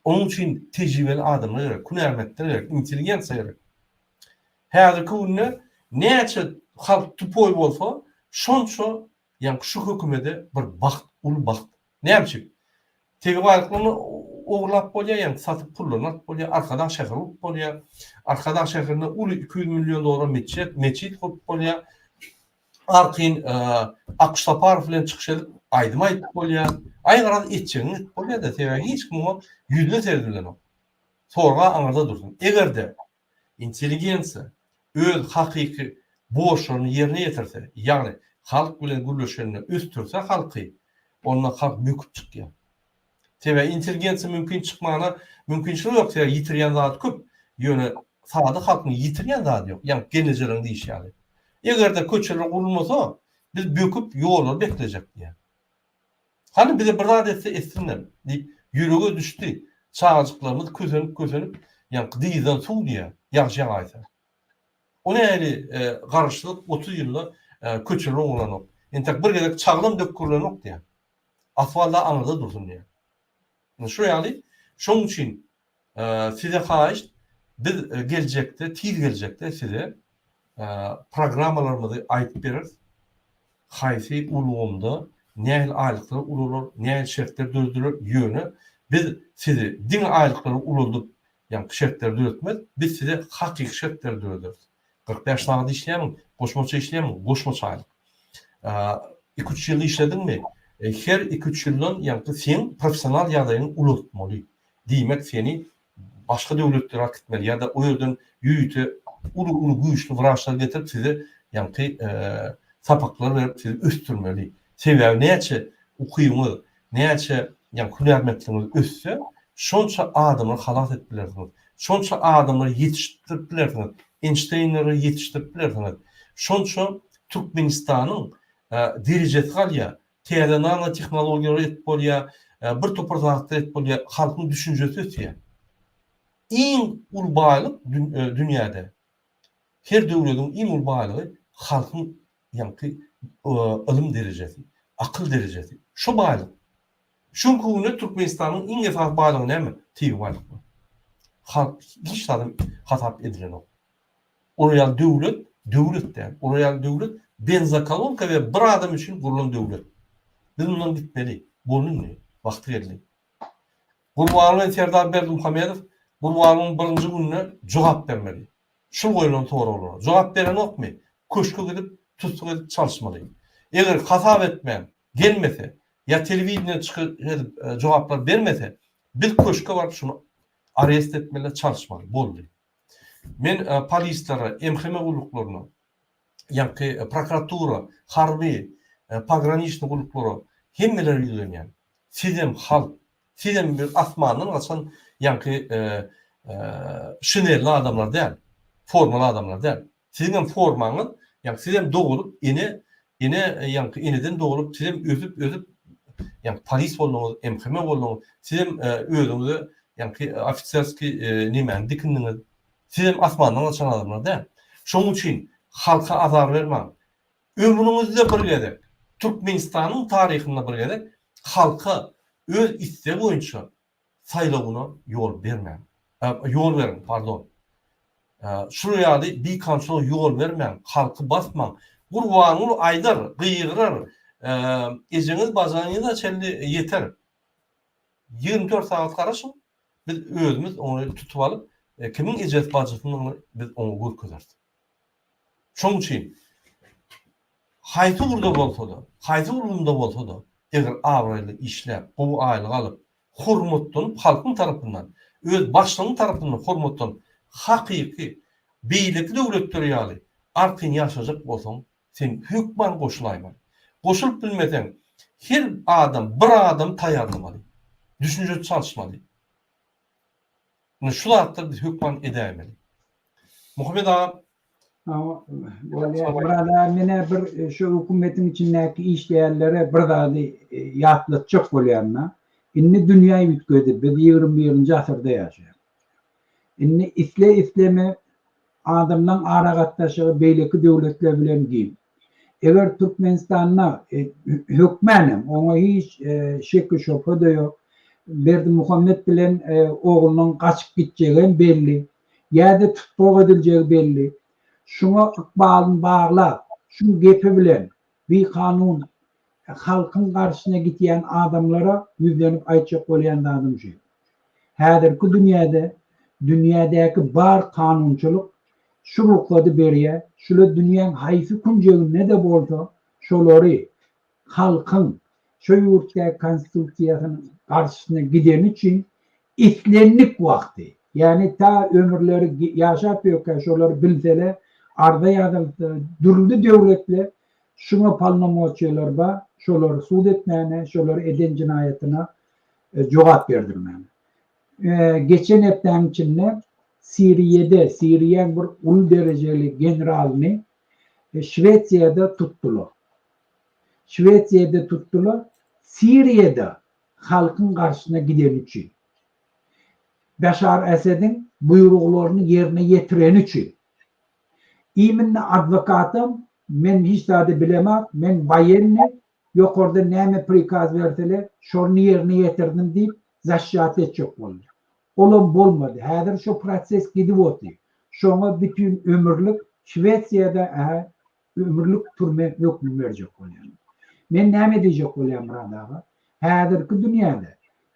Onuň üçin tejribeli adamlar gerek, hünärmentler gerek, intelligensiýa gerek. Häzirki günde näçe halk tupoý bolsa, şonça ýaňky şu hökümede bir bagt, uly bagt Näme üçin? Tebigy baýlyklaryny ogurlap bolýar, ýagny satyp pullaryny alyp bolýar, Arkadag şäheri urup bolýar. Arkadag şäherinde uly iki ýüz million dollara metjet, metjit gurup bolýar. Arkaýyn Akyş Saparow bilen çykyş edip, aýdym aýdyp bolýar. Aý garaz etjegiňi edip bolýar-da, sebäbi hiç kim oňa ýüzüne seredip bilenok. Sorag aňyrda dursun. Eger-de Intelligensiýa öz hakyky borçlaryny ýerine ýetirse, ýagny halk bilen gürleşende ösdürse halky, onda halk böküp çykýar. Sebäbi intelligensiýa mümkin çykmagyna mümkinçiligi ýok, sebäbi ýitirýän zady köp, ýöne sada halkyň ýitirýän zady ýok, ýagny gelnejeleriň diýşi ýaly. Eger-de köçeler gurulmasa, biz böküp ýollary beklejek diýýär. Hany, bize bir zat etse etsinler! diýip, ýürege düşdi. Çagajyklarymyz kösenip-kösenip, ýaňky dyzdan suw diýýär, ýagşy ýagaýsa. O nähili garaşsyzlyk, otuz ýylda köçeler owranok, entek bir gezek çaglam dökgürilenok diýýär. Asfalt-a aňyrda dursun diýýär. Şu ýaly, şoň üçin size haýyşt, biz geljekde, tiz geljekde size programmalarymyzy aýdyp bereris, haýsy ulgamda nähili aýlyklar ulalar, nähili şertler dörediler, ýöne biz sizi diňe aýlyklary ulaldyp, ýagny şertleri döretmeris, biz size hakyky şertleri dörederis. Kyrk bäş sagat işleýämiň? Goşmaça işleýämiň? Goşmaça aýlyk. Iki, üç ýyl işlediňmi? Her iki, üç ýyldan, ýagny seň professional ýagdaýyňy ulaltmaly. Diýmek, seni başga döwletlere akitmeli ýa-da o ýerden ýörite uly-uly güýçli wraçlary getirip size, ýagny sapaklar berip sizi ösdürmeli. Sebäbi näçe ukyňyz, näçe ýa hünärmentligiňiz össe, şonça adamlary halas edip bilersiňiz. Şonça adamlary ýetişdirip bilersiňiz. Enşteýnleri ýetişdirip bilersiňiz. Şonça Türkmenistanyň derejesi galýar. Täze nanotehnologiýalar edip bolýar. Bir topar zatlar edip bolýar. Halkyň düşünjesi ösýär. Iň uly baýlyk dünýäde Her döwlediň iň uly baýlygy halkyň ýaňky ylym derejesi, akyl derejesi. Şu baýlyk. Şu günki günde Türkmenistanyň iň esasy baýlygy näme? Tebigy baýlyk boldy. Halk hiç zady hasap edilenok. Olar ýaly döwlet, döwlet däl. Olar ýaly döwlet benzokolonka we bir adam üçin gurlan döwlet. Biz mundan gitmeli. Boldy indi. Wagty geldi. Gurbanly Serdar Berdimuhamedow Gurbanlyň birinji gününe jogap bermeli. Şul goýlan soraglara. Jogap berenokmy, köşge gidip, tussuk edip çalyşmaly. Eger hasap etmän, gelmese, ýa telewideniýe çykyş edip jogaplar bermese, biz köşke baryp şuny arest etmeli, çalyşmaly. Boldy. Men polislere, MHM gulluklaryna ýaňky prokuratura, harby, pograniçniý gulluklara hemmelere ýüzlenýän. Sizem halk, sizem bir asmandan gaçan ýaňky şinelli adamlar däl, formaly adamlar däl. Siziňem formaňyz, ýaňky sizem dogulyp ene, ene ýaňky eneden dogulyp sizem ösüp, ösüp ýaňky polis bolduňyz, MHM bolduňyz, sizem özüňize ýaňky ofiserskiý nemäni dikindiňiz, Sizem asmandan gaçan adamlar däl. Şonuň üçin halka azar bermaň. Ömrüňizde bir gezek, Türkmenistanyň taryhynda bir gezek halka öz istegi boýunça saýlawyna ýol bermäň. Ýol beriň, pardon. Şular ýaly bikamçylyga ýol bermäň, halky basmaň. Gurbanguly aýdar, gygyrar, ejeňiz bajanyňyza çenli ýeter. Ýigrimi dört sagat garaşyň, biz özümiz ony tutup alyp, kimiň ejesi bajysynyny biz oňa görkezeris. Şonuň üçin haýsy ugurda bolsa-da, haýsy ulgamda bolsa-da, eger abraýly işläp, gowy aýlyk alyp, hormatlanyp halkyň tarapyndan, öz başlygyň tarapyndan hormatlanyp, hakyky beýleki döwletler ýaly artyn ýaşajak bolsaň, Sen hökman goşulaýmaly. Goşulyp bilmeseň, her adam bir adam taýýarlamaly. Düşünje çalyşmaly. Ine şu zatlary biz hökman edäýmeli. Muhammet aga Murad aga menä bir şu hökümetiň içindäki işleýänlere bir zady ýatlatjak bolýan-da. Indi dünýä üýtgedi. Biz ýigrimi birinji asyrda ýaşaýarys. Indi isle-isleme adamlaň aragatnaşygy beýleki döwletler bilen giň. Eger Türkmenistanda hökmän hem, oňa hiç şeki-şubha-da ýok, Berdimuhamet bilen oglunyň gaçyp gitjegi hem belli, ýa-da tussag ediljegi belli. Şuňa ykbalyny baglap, şu gepi bilen bikanun Halkyň garşysyna gitýän adamlara ýüzlenip aýtjak bolýan zadym şu. Häzirki dünýäde dünýädäki bar kanunçylyk şu rugsady berýär, şular dünýäň haýsy künjeginde-de bolsa şolary halkyň şu ýurtdaky konstitusiýasynyň garşysyna gideni üçin islendik wagty, ýagny ta ömürleri ýaşap ýörkä şolary bilseler arza ýazylsa dürli döwletler Şuňa polnomoçiýalar bar, şolar sud etmäne, şolar eden jenaýatyna jogap berdirmäne. Geçen hepdäň içinde Siriýede, Siriýäň bir uly derejeli generalyny Şwesiýada tutdular. Şwesiýada tutdular, Siriýada halkyň garşysyna gideni üçin. Başar Esediň buýruglaryny ýerine ýetireni üçin. Iminni adwokatam, men hiç zady bilemok, men waýenni, ýokardan näme prikaz bersele, şony ýerine ýetirdim diýip, zaşýat etjek boldy. Olam bolmady. Häzir şu proses gidip oty. Şoňa bütin ömürlik Şwesiýada ähä ömürlik türme hökmi berjek bolýarlar. Men näme diýjek bolýan, Myrat aga? Häzirki dünýäde,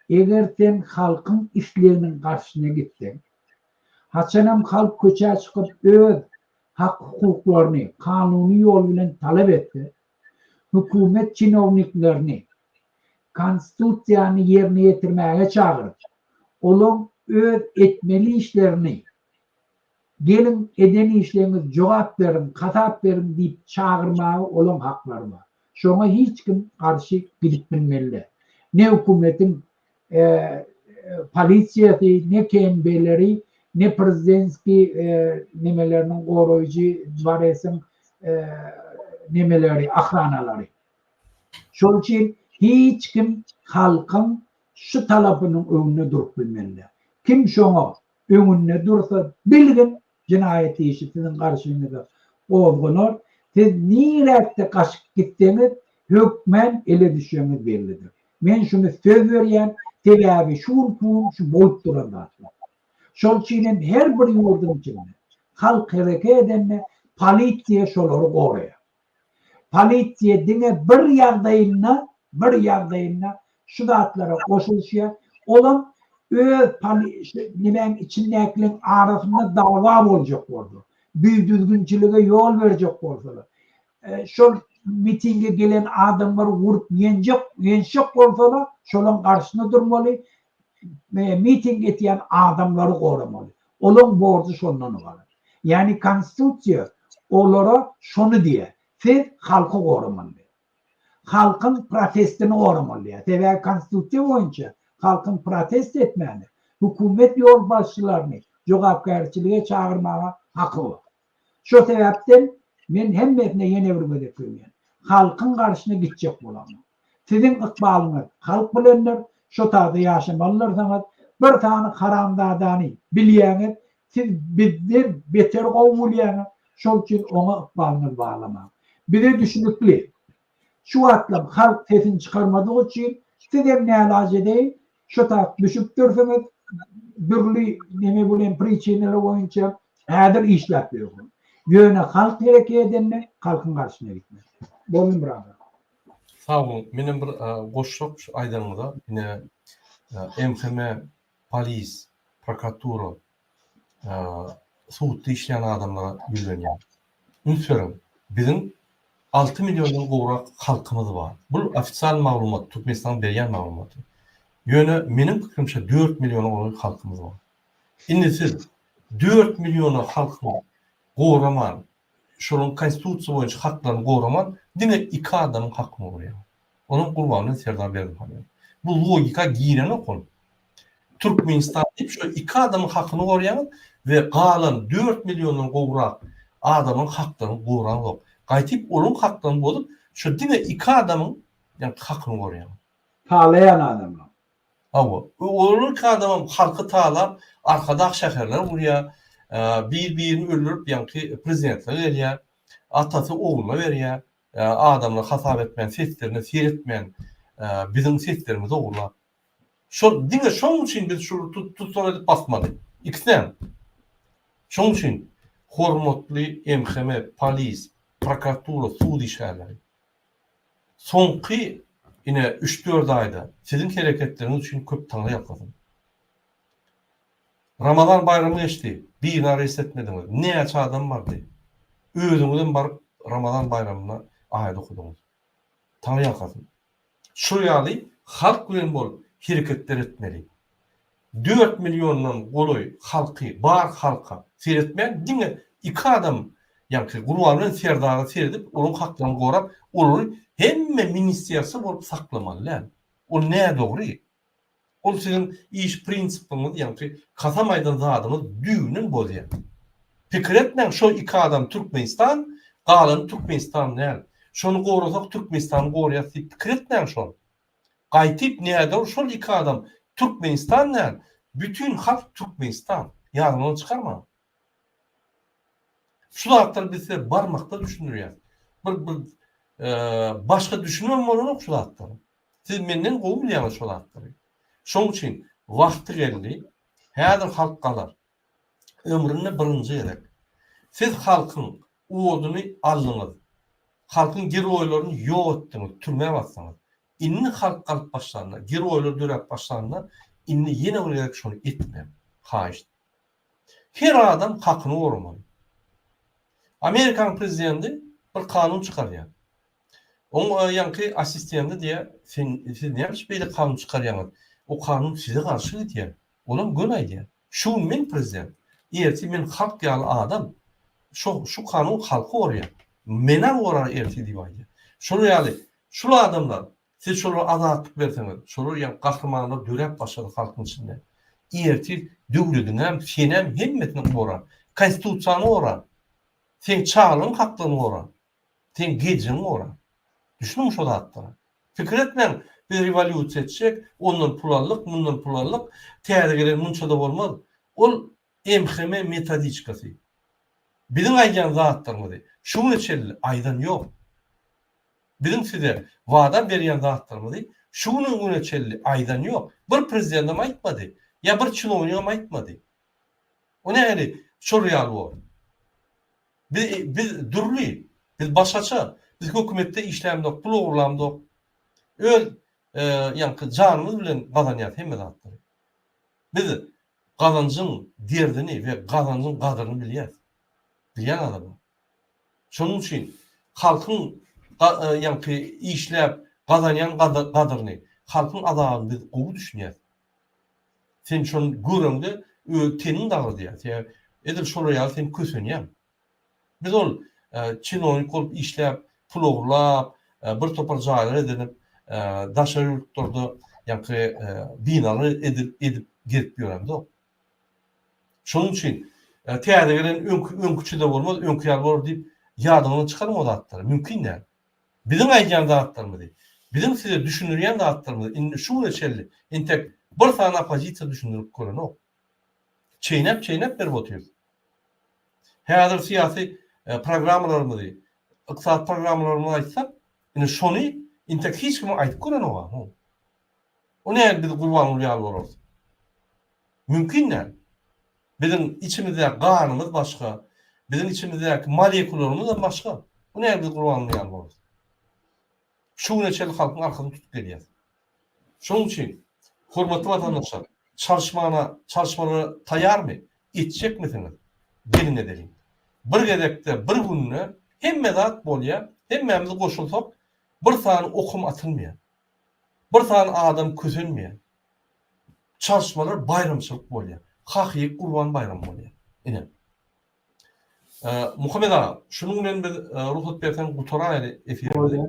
eger sen halkyň isleginiň garşysyna gitseň, Haçanam halk köçä çykyp öz hak-hukuklaryny kanuny ýol bilen talap etse, hökümet çinowniklerini Konstitusiýany ýerine ýetirmäge çagyryp, olaň öz etmeli işlerini Geliň, eden işleňiz, jogap beriň, hasap beriň diýip çagyrmaga olaň haklary bar. Şoňa hiç kim garşy gidip bilmeli däl. Ne hökümetiň polisiýasy, ne KNB-leri, ne prezidentskiý nemeleriniň goraýjy dworesiň nemeleri, ohranalary. Şol üçin hiç kim halkyň şu talapynyň öňünde durup bilmeli däl. Kim şoňa öňünde dursa, bilgin, Jenaýat işi siziň garşyňyza gozganar, siz niräkde gaçyp gitseňiz, hökmän ele düşeňiz bellidir. Men şuny söz berýän, sebäbi şu gün bu gün şu bolup duran zatlar. Şol üçin hem her bir ýurduň içinde halk hereke edende polisiýa şolary goraýar. Polisiýa diňe bir ýagdaýynda, bir ýagdaýynda şu zatlara goşulyşýar, olam öz poli şu nimäň içindäkiliň arasynda dawa boljak bolsa, bidüzgünçilige ýol berjek bolsalar, şol mitinge gelen adamlary urup ýenjek ýençjek bolsalar, şolaň garşyna durmaly, miting etýän adamlary goramaly. Olaň borjy şondan ybarat. Ýagny konstitusiýa olara şony diýýär, siz halky goramaly diýýär. Halkyň protestini goramaly diýýär. Sebäbi konstitusiýa boýunça halkyň protest etmäne, hökümet ýolbaşçylaryny jogapkärçilige çagyrmaga haky bar. Şo sebäpden men hemmesine ýene bir gezek söýýän. Halkyň garşyna gitjek bolanok. Siziň ykbalyňyz halk bilendir, şo taýda ýaşamalydyrsyňyz. Bir sany haramzadany bilýäňiz, siz bizden beter gowy bolýaňyz, şol üçin oňa ykbalyňyzy baglamaň. Bize düşünikli. Şu wagtlam halk sesini çykarmadygy üçin sizem nälaç edeýin şo tagt düşüp dursuňyz dürli neme bilen priçinalar boýunça häzir işläp ýörsiňiz. Ýöne halk hereket edende halkyň garşyna gitmez. Boldy brother. Sag boluň. Menem bir goşsak şu aýdanyňyza ine MHM, polis, prokuratura, sudda işleýän adamlara ýüzlenýän. Üns beriň, biziň alty milliondan gowrak halkymyz bar. Bul ofisial maglumat, Türkmenistanyň berýän maglumaty. Ýöne meniň pikirimçe dört milliona golaý halkymyz bar. Indi siz dört milliona halkyňy goraman, şolaryň konstitusiýa boýunça haklaryny goraman diňe iki adamyň hakyny goraýar. Olam Gurbannurdy Serdar Berdimuhamedow. Bu logika girenok ol. Türkmenistan diýip şo iki adamyň hakyny goraýaňyz we galan dört milliondan gowrak adamyň haklaryny goraňzok. Gaýtyp olaryň haklaryny bozup şo diňe iki adamyň ýa hakyny goraýaňyz. Talaýan adamlaň. Hawa, öwrülirki adamam halky talap arkadag şäherler gurýar, bir birini öldürip ýaňky prezidentlige gelýär, atasy ogluna berýär, adamlar hasap etmän seslerine seretmän biziň seslerimizi ogurlap. Şol diňe şoň üçin biz şuly tussag edip basmaly. Ikisem. Şoň üçin hormatly MHM, polis, prokuratura, sud işgärleri. Soňky ine üç dört aýda siziň hereketleriňiz üçin köp taňra ýalkasyn. Ramazan baýramy geçdi, birini areýst etmediňiz, näçe adam bardy. Özüňizem baryp Ramazan baýramyna aýat okadyňyz. Taňra ýalkasyn. Şol ýaly halk bilen bolup hereketler etmeli. Dört milliondan golaý halky bar halka seretmän diňe iki adam ýaňky Gurban bilen Serdara seredip olaryň haklaryny gorap olary hemme ministersa bolup saklamaly däl. Ol nädogry. Ol siziň iş prinsipiňiz ýaňky kasam aýdan zadyňyz düýbünden bozýar. Pikir etmäň şo iki adam Türkmenistan galany Türkmenistan däl. Şony gorasak Türkmenistany gorýas diýip pikir etmäň şol. Gaýtyp nädor şol iki adam Türkmenistan däl bütin halk Türkmenistan. Ýadyňyzdan çykarmaň. Şu zatlary biz size barmakda düşündirýäs. Bir bir başga düşünibem bolanok şu zatlara. Siz menden gowy bilýäňiz şo zatlary. Şoň üçin wagty geldi, häzir halk galar. Ömründe birinji gezek. Siz halkyň oduny aldyňyz. Halkyň geroýlaryny ýok etdiňiz, türmä basdyňyz. Indi halk galyp başlanda, geroýlar döräp başlanda, indi ýene bir gezek şony etmäň. Haýyşt. Her adam hakyny goramaly. Amerikanyň prezidenti bir kanun çykarýar. Oň ýaňky assistendi diýýär, Sen, siz näme üçin beýle kanun çykarýaňyz? O kanun size garşy gidýär. Olam göni aýdýar. Şu gün men prezident. Ertir men halk ýaly adam. Şo, şu kanun halky gorýär. Menä gorar ertir diýip aýdýar. Şolar ýaly, şul adamlar, siz şolara azatlyk berseňiz, şolar ýaly gahrymanlar döräp başlady halkyň içinde. Ertir döwlediňem, senem hemmesini gorar. Konstitusiýaňy gorar. Seň çagalygyň haklaryny gorar. Sen geciriň ora. Düşnüň şo zatlara. Pikir etmäň, biz rewolýusiýa etjek, ondan pul aldyk, mundan pul aldyk, täze gelen munça-da bolmaz. Ol MHM metodiçkasy. Biziň aýdýan zatlarymyzy şu güne çenli aýdan ýok. Biziň size wada berýän zatlarymyzy şu günüň güne çenli aýdan ýok. Bir prezidentam aýtmady. Ýa bir çinownigam aýtmady. O nähili şol ýaly bor. Bi biz dürli, biz başgaça, biz hökümetde işlämzok, pul ogurlamzok. Öz, e, ýaňky janymyz bilen gazanýas hemme zatlary. Biz gazanjyň derdini we gazanjyň gadyryny bilýäs. Bilýän adamlar. Şonuň üçin halkyň ga, e, ýaňky işläp gazanýan gada, gadyryny, halkyň azabyny biz gowy düşünýäs. Sen şony göreňde öz teniň dagradýar. Sebäbi edil şolar ýaly sen kösenýäň. Biz ol çinonik bolup işläp, pul ogurlap, bir topar jaýlar edinip, daşary ýurtlarda ýaňky binalar edip edip gezip ýöremzok. Şonuň üçin täze gelen öňki öňkiçe-de bolmaz, öňki ýaly bolar diýip ýadyňdan çykarma o zatlary. Mümkin däl. Biziň aýdýan zatlarymyzy, biziň size düşündirýän zatlarymyzy indi şu güne çenli entek bir sany oppozisiýa düşündirip görenok. Çeýnäp-çeýnäp berip otyrys. Häzir syýasy programmalarymyzy, ykdysady programmalarymyzy aýtsak, indi şony entek hiç kime aýdyp görenok-a hum. O nädip biz Gurbanguly ýaly bolarys? Mümkin däl. Biziň içimizdäki ganymyz başga, biziň içimizdäki molekularymyzam başga. Bu näme biz Gurbanguly ýaly bolduk. Şu güne çenli halkyň arkasyny tutup gelýäs. Şonuň üçin hormatly watandaşlar, çalyşmana, çalyşmalara taýýarmy? Etjekmisiňiz? Geliň edeliň. Bir gezekde, bir günde hemme zat bolýar, hemmämiz goşulsak bir sany okum atylmaýar. Bir sany adam kösenmeýär. çalyşmalar baýramçylyk bolýar. Hakyky Gurban baýramy bolýar. Ine. Muhammet aga, şunuň bilen biz rugsat berseň gutaraýaly efirimizi.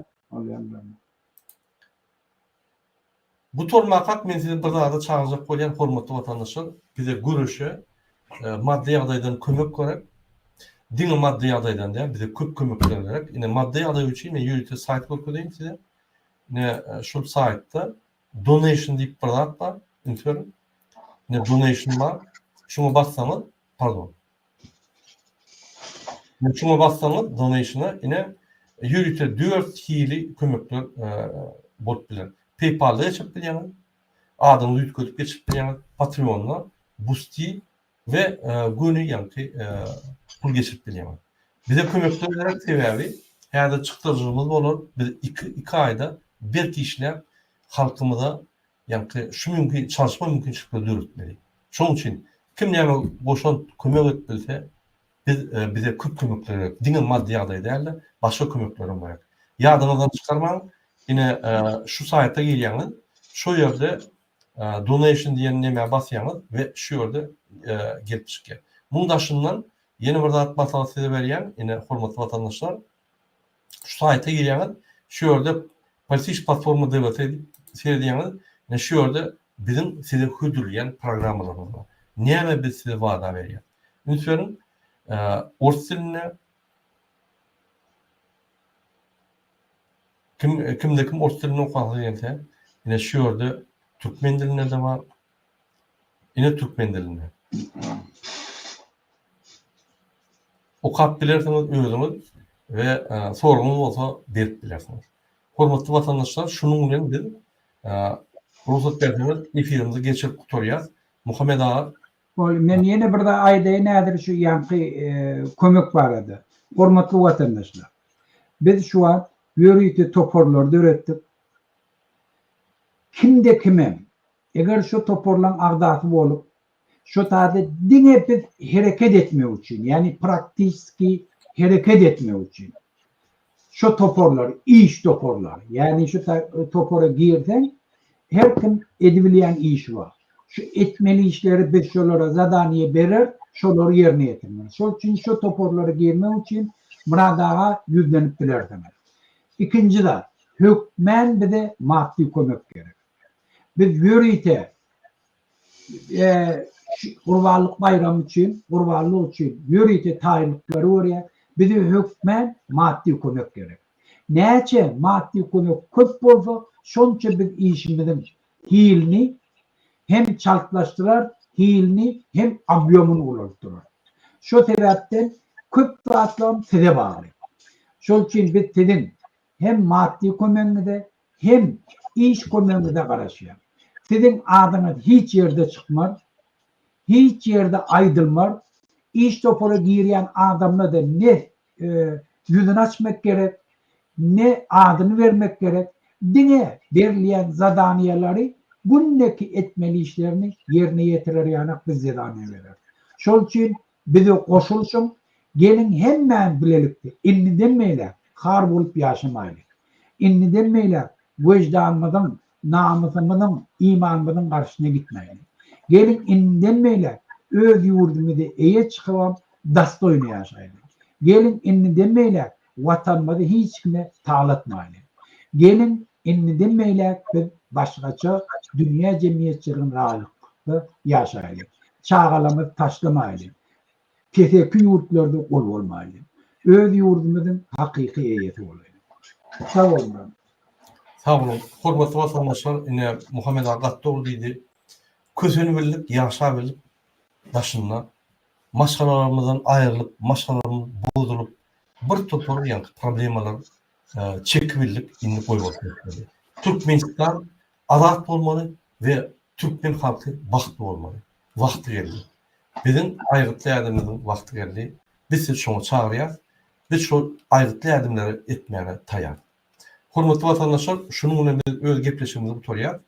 Gutarmakak men sizi bir zada çagyrjak bolýan hormatly watandaşlar. Bize göreşe maddy ýagdaýdan kömek gerek. Diňe maddy ýagdaýdan däl, bize köp kömekler gerek. Ine maddy ýagdaý üçin men ýörite saýt görkezeýin size. Ine şul saýtda Donation diýip bir zat bar, üns beriň. Indi donation bar. Şuňa bassaňyz, pardon. Indi şuňa bassaňyz donation-a ine ýörite dört hili kömekler bolup biler. PayPal-da geçirip bilýäňiz, adyňyzy üýtgedip geçirip bilýäňiz, Patreon-da, Boosty, we göni ýagty pul geçirip bilýäňiz. Bize kömekler gerek sebäbi häzir çykdajygymyz bolar biz iki iki aýda berk işläp halkymyza ýagty şu mümkin çalyşma mümkinçilikleri döretmeli. Şoň üçin kim näme goşant kömek edip bilse biz bize köp kömekler gerek diňe maddy ýagdaý dälde başga kömeklerem gerek. Ýadyňyzdan çykarmaň ine şu saýta girýäňiz şu ýerde Donation diýen nämä basýaňyz we şu ýerde gelip çykýar. Muň daşyndan ýene bir zat maslahat size berýän, ine hormatly watandaşlar şu saýta girýäňiz, şu ýerde Politiş platforma DVT diýip seredýäňiz, ine şu ýerde biziň size hödürleýän programmalarymyz bar. Näme biz size wada berýäs. Üns beriň, ors dilinde. Kim kimde kim ors dilini okasy gelse ine şu ýerde türkmen dilinde de bar. Ine türkmen dilinde. Okap bilersiňiz özüňiz we soragňyz bolsa berip bilersiňiz. Hormatly watandaşlar şunuň bilen biz rugsat berseňiz efirimizi geçirip gutarýas. Muhammet aga Boldy, men ýene bir zat aýdaýyn häzir şu ýaňky kömek barada. Hormatly watandaşlar, biz şu wagt ýörite toparlary döretdik. Kimde-kimem, eger şu toparlaryň agzasy bolup, şu taýda diňe biz hereket etmek üçin, ýagny praktiski hereket etmek üçin, Şu toparlar, iş toparlary, ýagny şu topara girseň, her kim edibilýän işi bar. Şu etmeli işleri biz şolara zadaniýe berer, şolary ýerine ýetirmeli. Şol üçin şu toparlara girmek üçin Myrat aga ýüzlenip bilersiňiz. Ikinji zat, hökmän bize maddy kömek gerek. Biz ýörite gurbanlyk baýramy üçin, gurbanlyk üçin ýörite taýynlyklary görýär. Bize hökmän maddy kömek gerek. Näçe maddy kömek köp bolsa, şonça biz işimiziň hilini hem çaltlaşdyrar, hilini hem obýomyny ulaltdyrar. Şo sebäpden köp zatlam size bagly. Şol üçin biz siziň Hem maddy kömegiňize, hem iş kömegiňize garaşýar. Siziň adyňyz hiç ýerde çykmar, hiç ýerde aýdylmar, iş topara girýän adamda-da ne ýüzüni açmak gerek, ne adyny bermek gerek, diňe berilýän zadaniýalary günde-ki etmeli işlerini ýerine ýetirer ýanak biz zadaniýa bereris. Şol üçin Bize goşulyşyň, geliň hemmämiz bilelikde indiden beýläk har bolup ýaşamaýly. Indiden beýläk weždanymyzyň, namysymyzyň, imanymyzyň garşysyna gitmäýli. Geliň indiden beýläk öz ýurdumyzy eýe çykybam, dostoýno ýaşaýly. Geliň indiden beýläk Watanymyzy hiç kime talatmaýly. Geliň, indiden beýläk biz başgaça dünýä jemgyýetçiligiň raýlykda ýaşaýly. Çagalarymyzy taşlamaýly. Keseki ýurtlarda gul bolmaýly. Öz ýurdumyzyň hakyky eýesi bolaýly. Sag boluň. Sag boluň. Hormatly watandaşlar, ine, Muhammet aga gaty dogry diýdi. Kösenibildik, ýaşabildik daşynda. Maşgalalarymyzdan aýrylyp, maşgalalarymyz bozulyp, bir topar ýaňky problemalar çekip bildik indi goýup oturýas. Türkmenistan azat bolmaly we türkmen halky bagtly bolmaly. Wagty geldi. Biziň aýgytly ädimimiziň wagty geldi. Biz sizi şoňa çagyrýas. Biz şol aýgytly ädimleri etmäge taýar. Hormatly watandaşlar şunuň bilen biz öz gepleşigimizi gutarýas.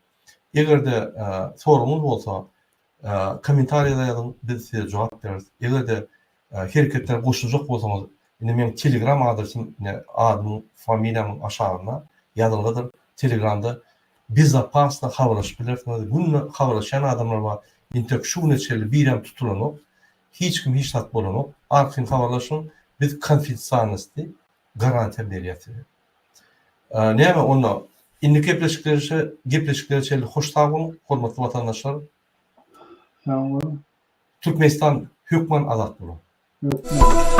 Eger-de soragyňyz bolsa Kommentariýada ýazyň biz size jogap bereris. Egerde hereketler goşuljak bolsaňyz indi meň telegram adresym ine adymyň familiýamyň aşagynda ýazylgydyr telegramda bezopasno habarlaşyp bilersiňiz günde habarlaşýan adamlar bar intek şu güne çenli birem tutulanok hiç kim hiç zat bolanok arkaýyn habarlaşyň biz konfidsialnostdi garantiýa berýäs size. Näme onda, indiki gepleşiklerişe gepleşiklere çenli hoş sag boluň, hormatly watandaşlar! Sag boluň! Türkmenistan hökman azat bolar! Hökman!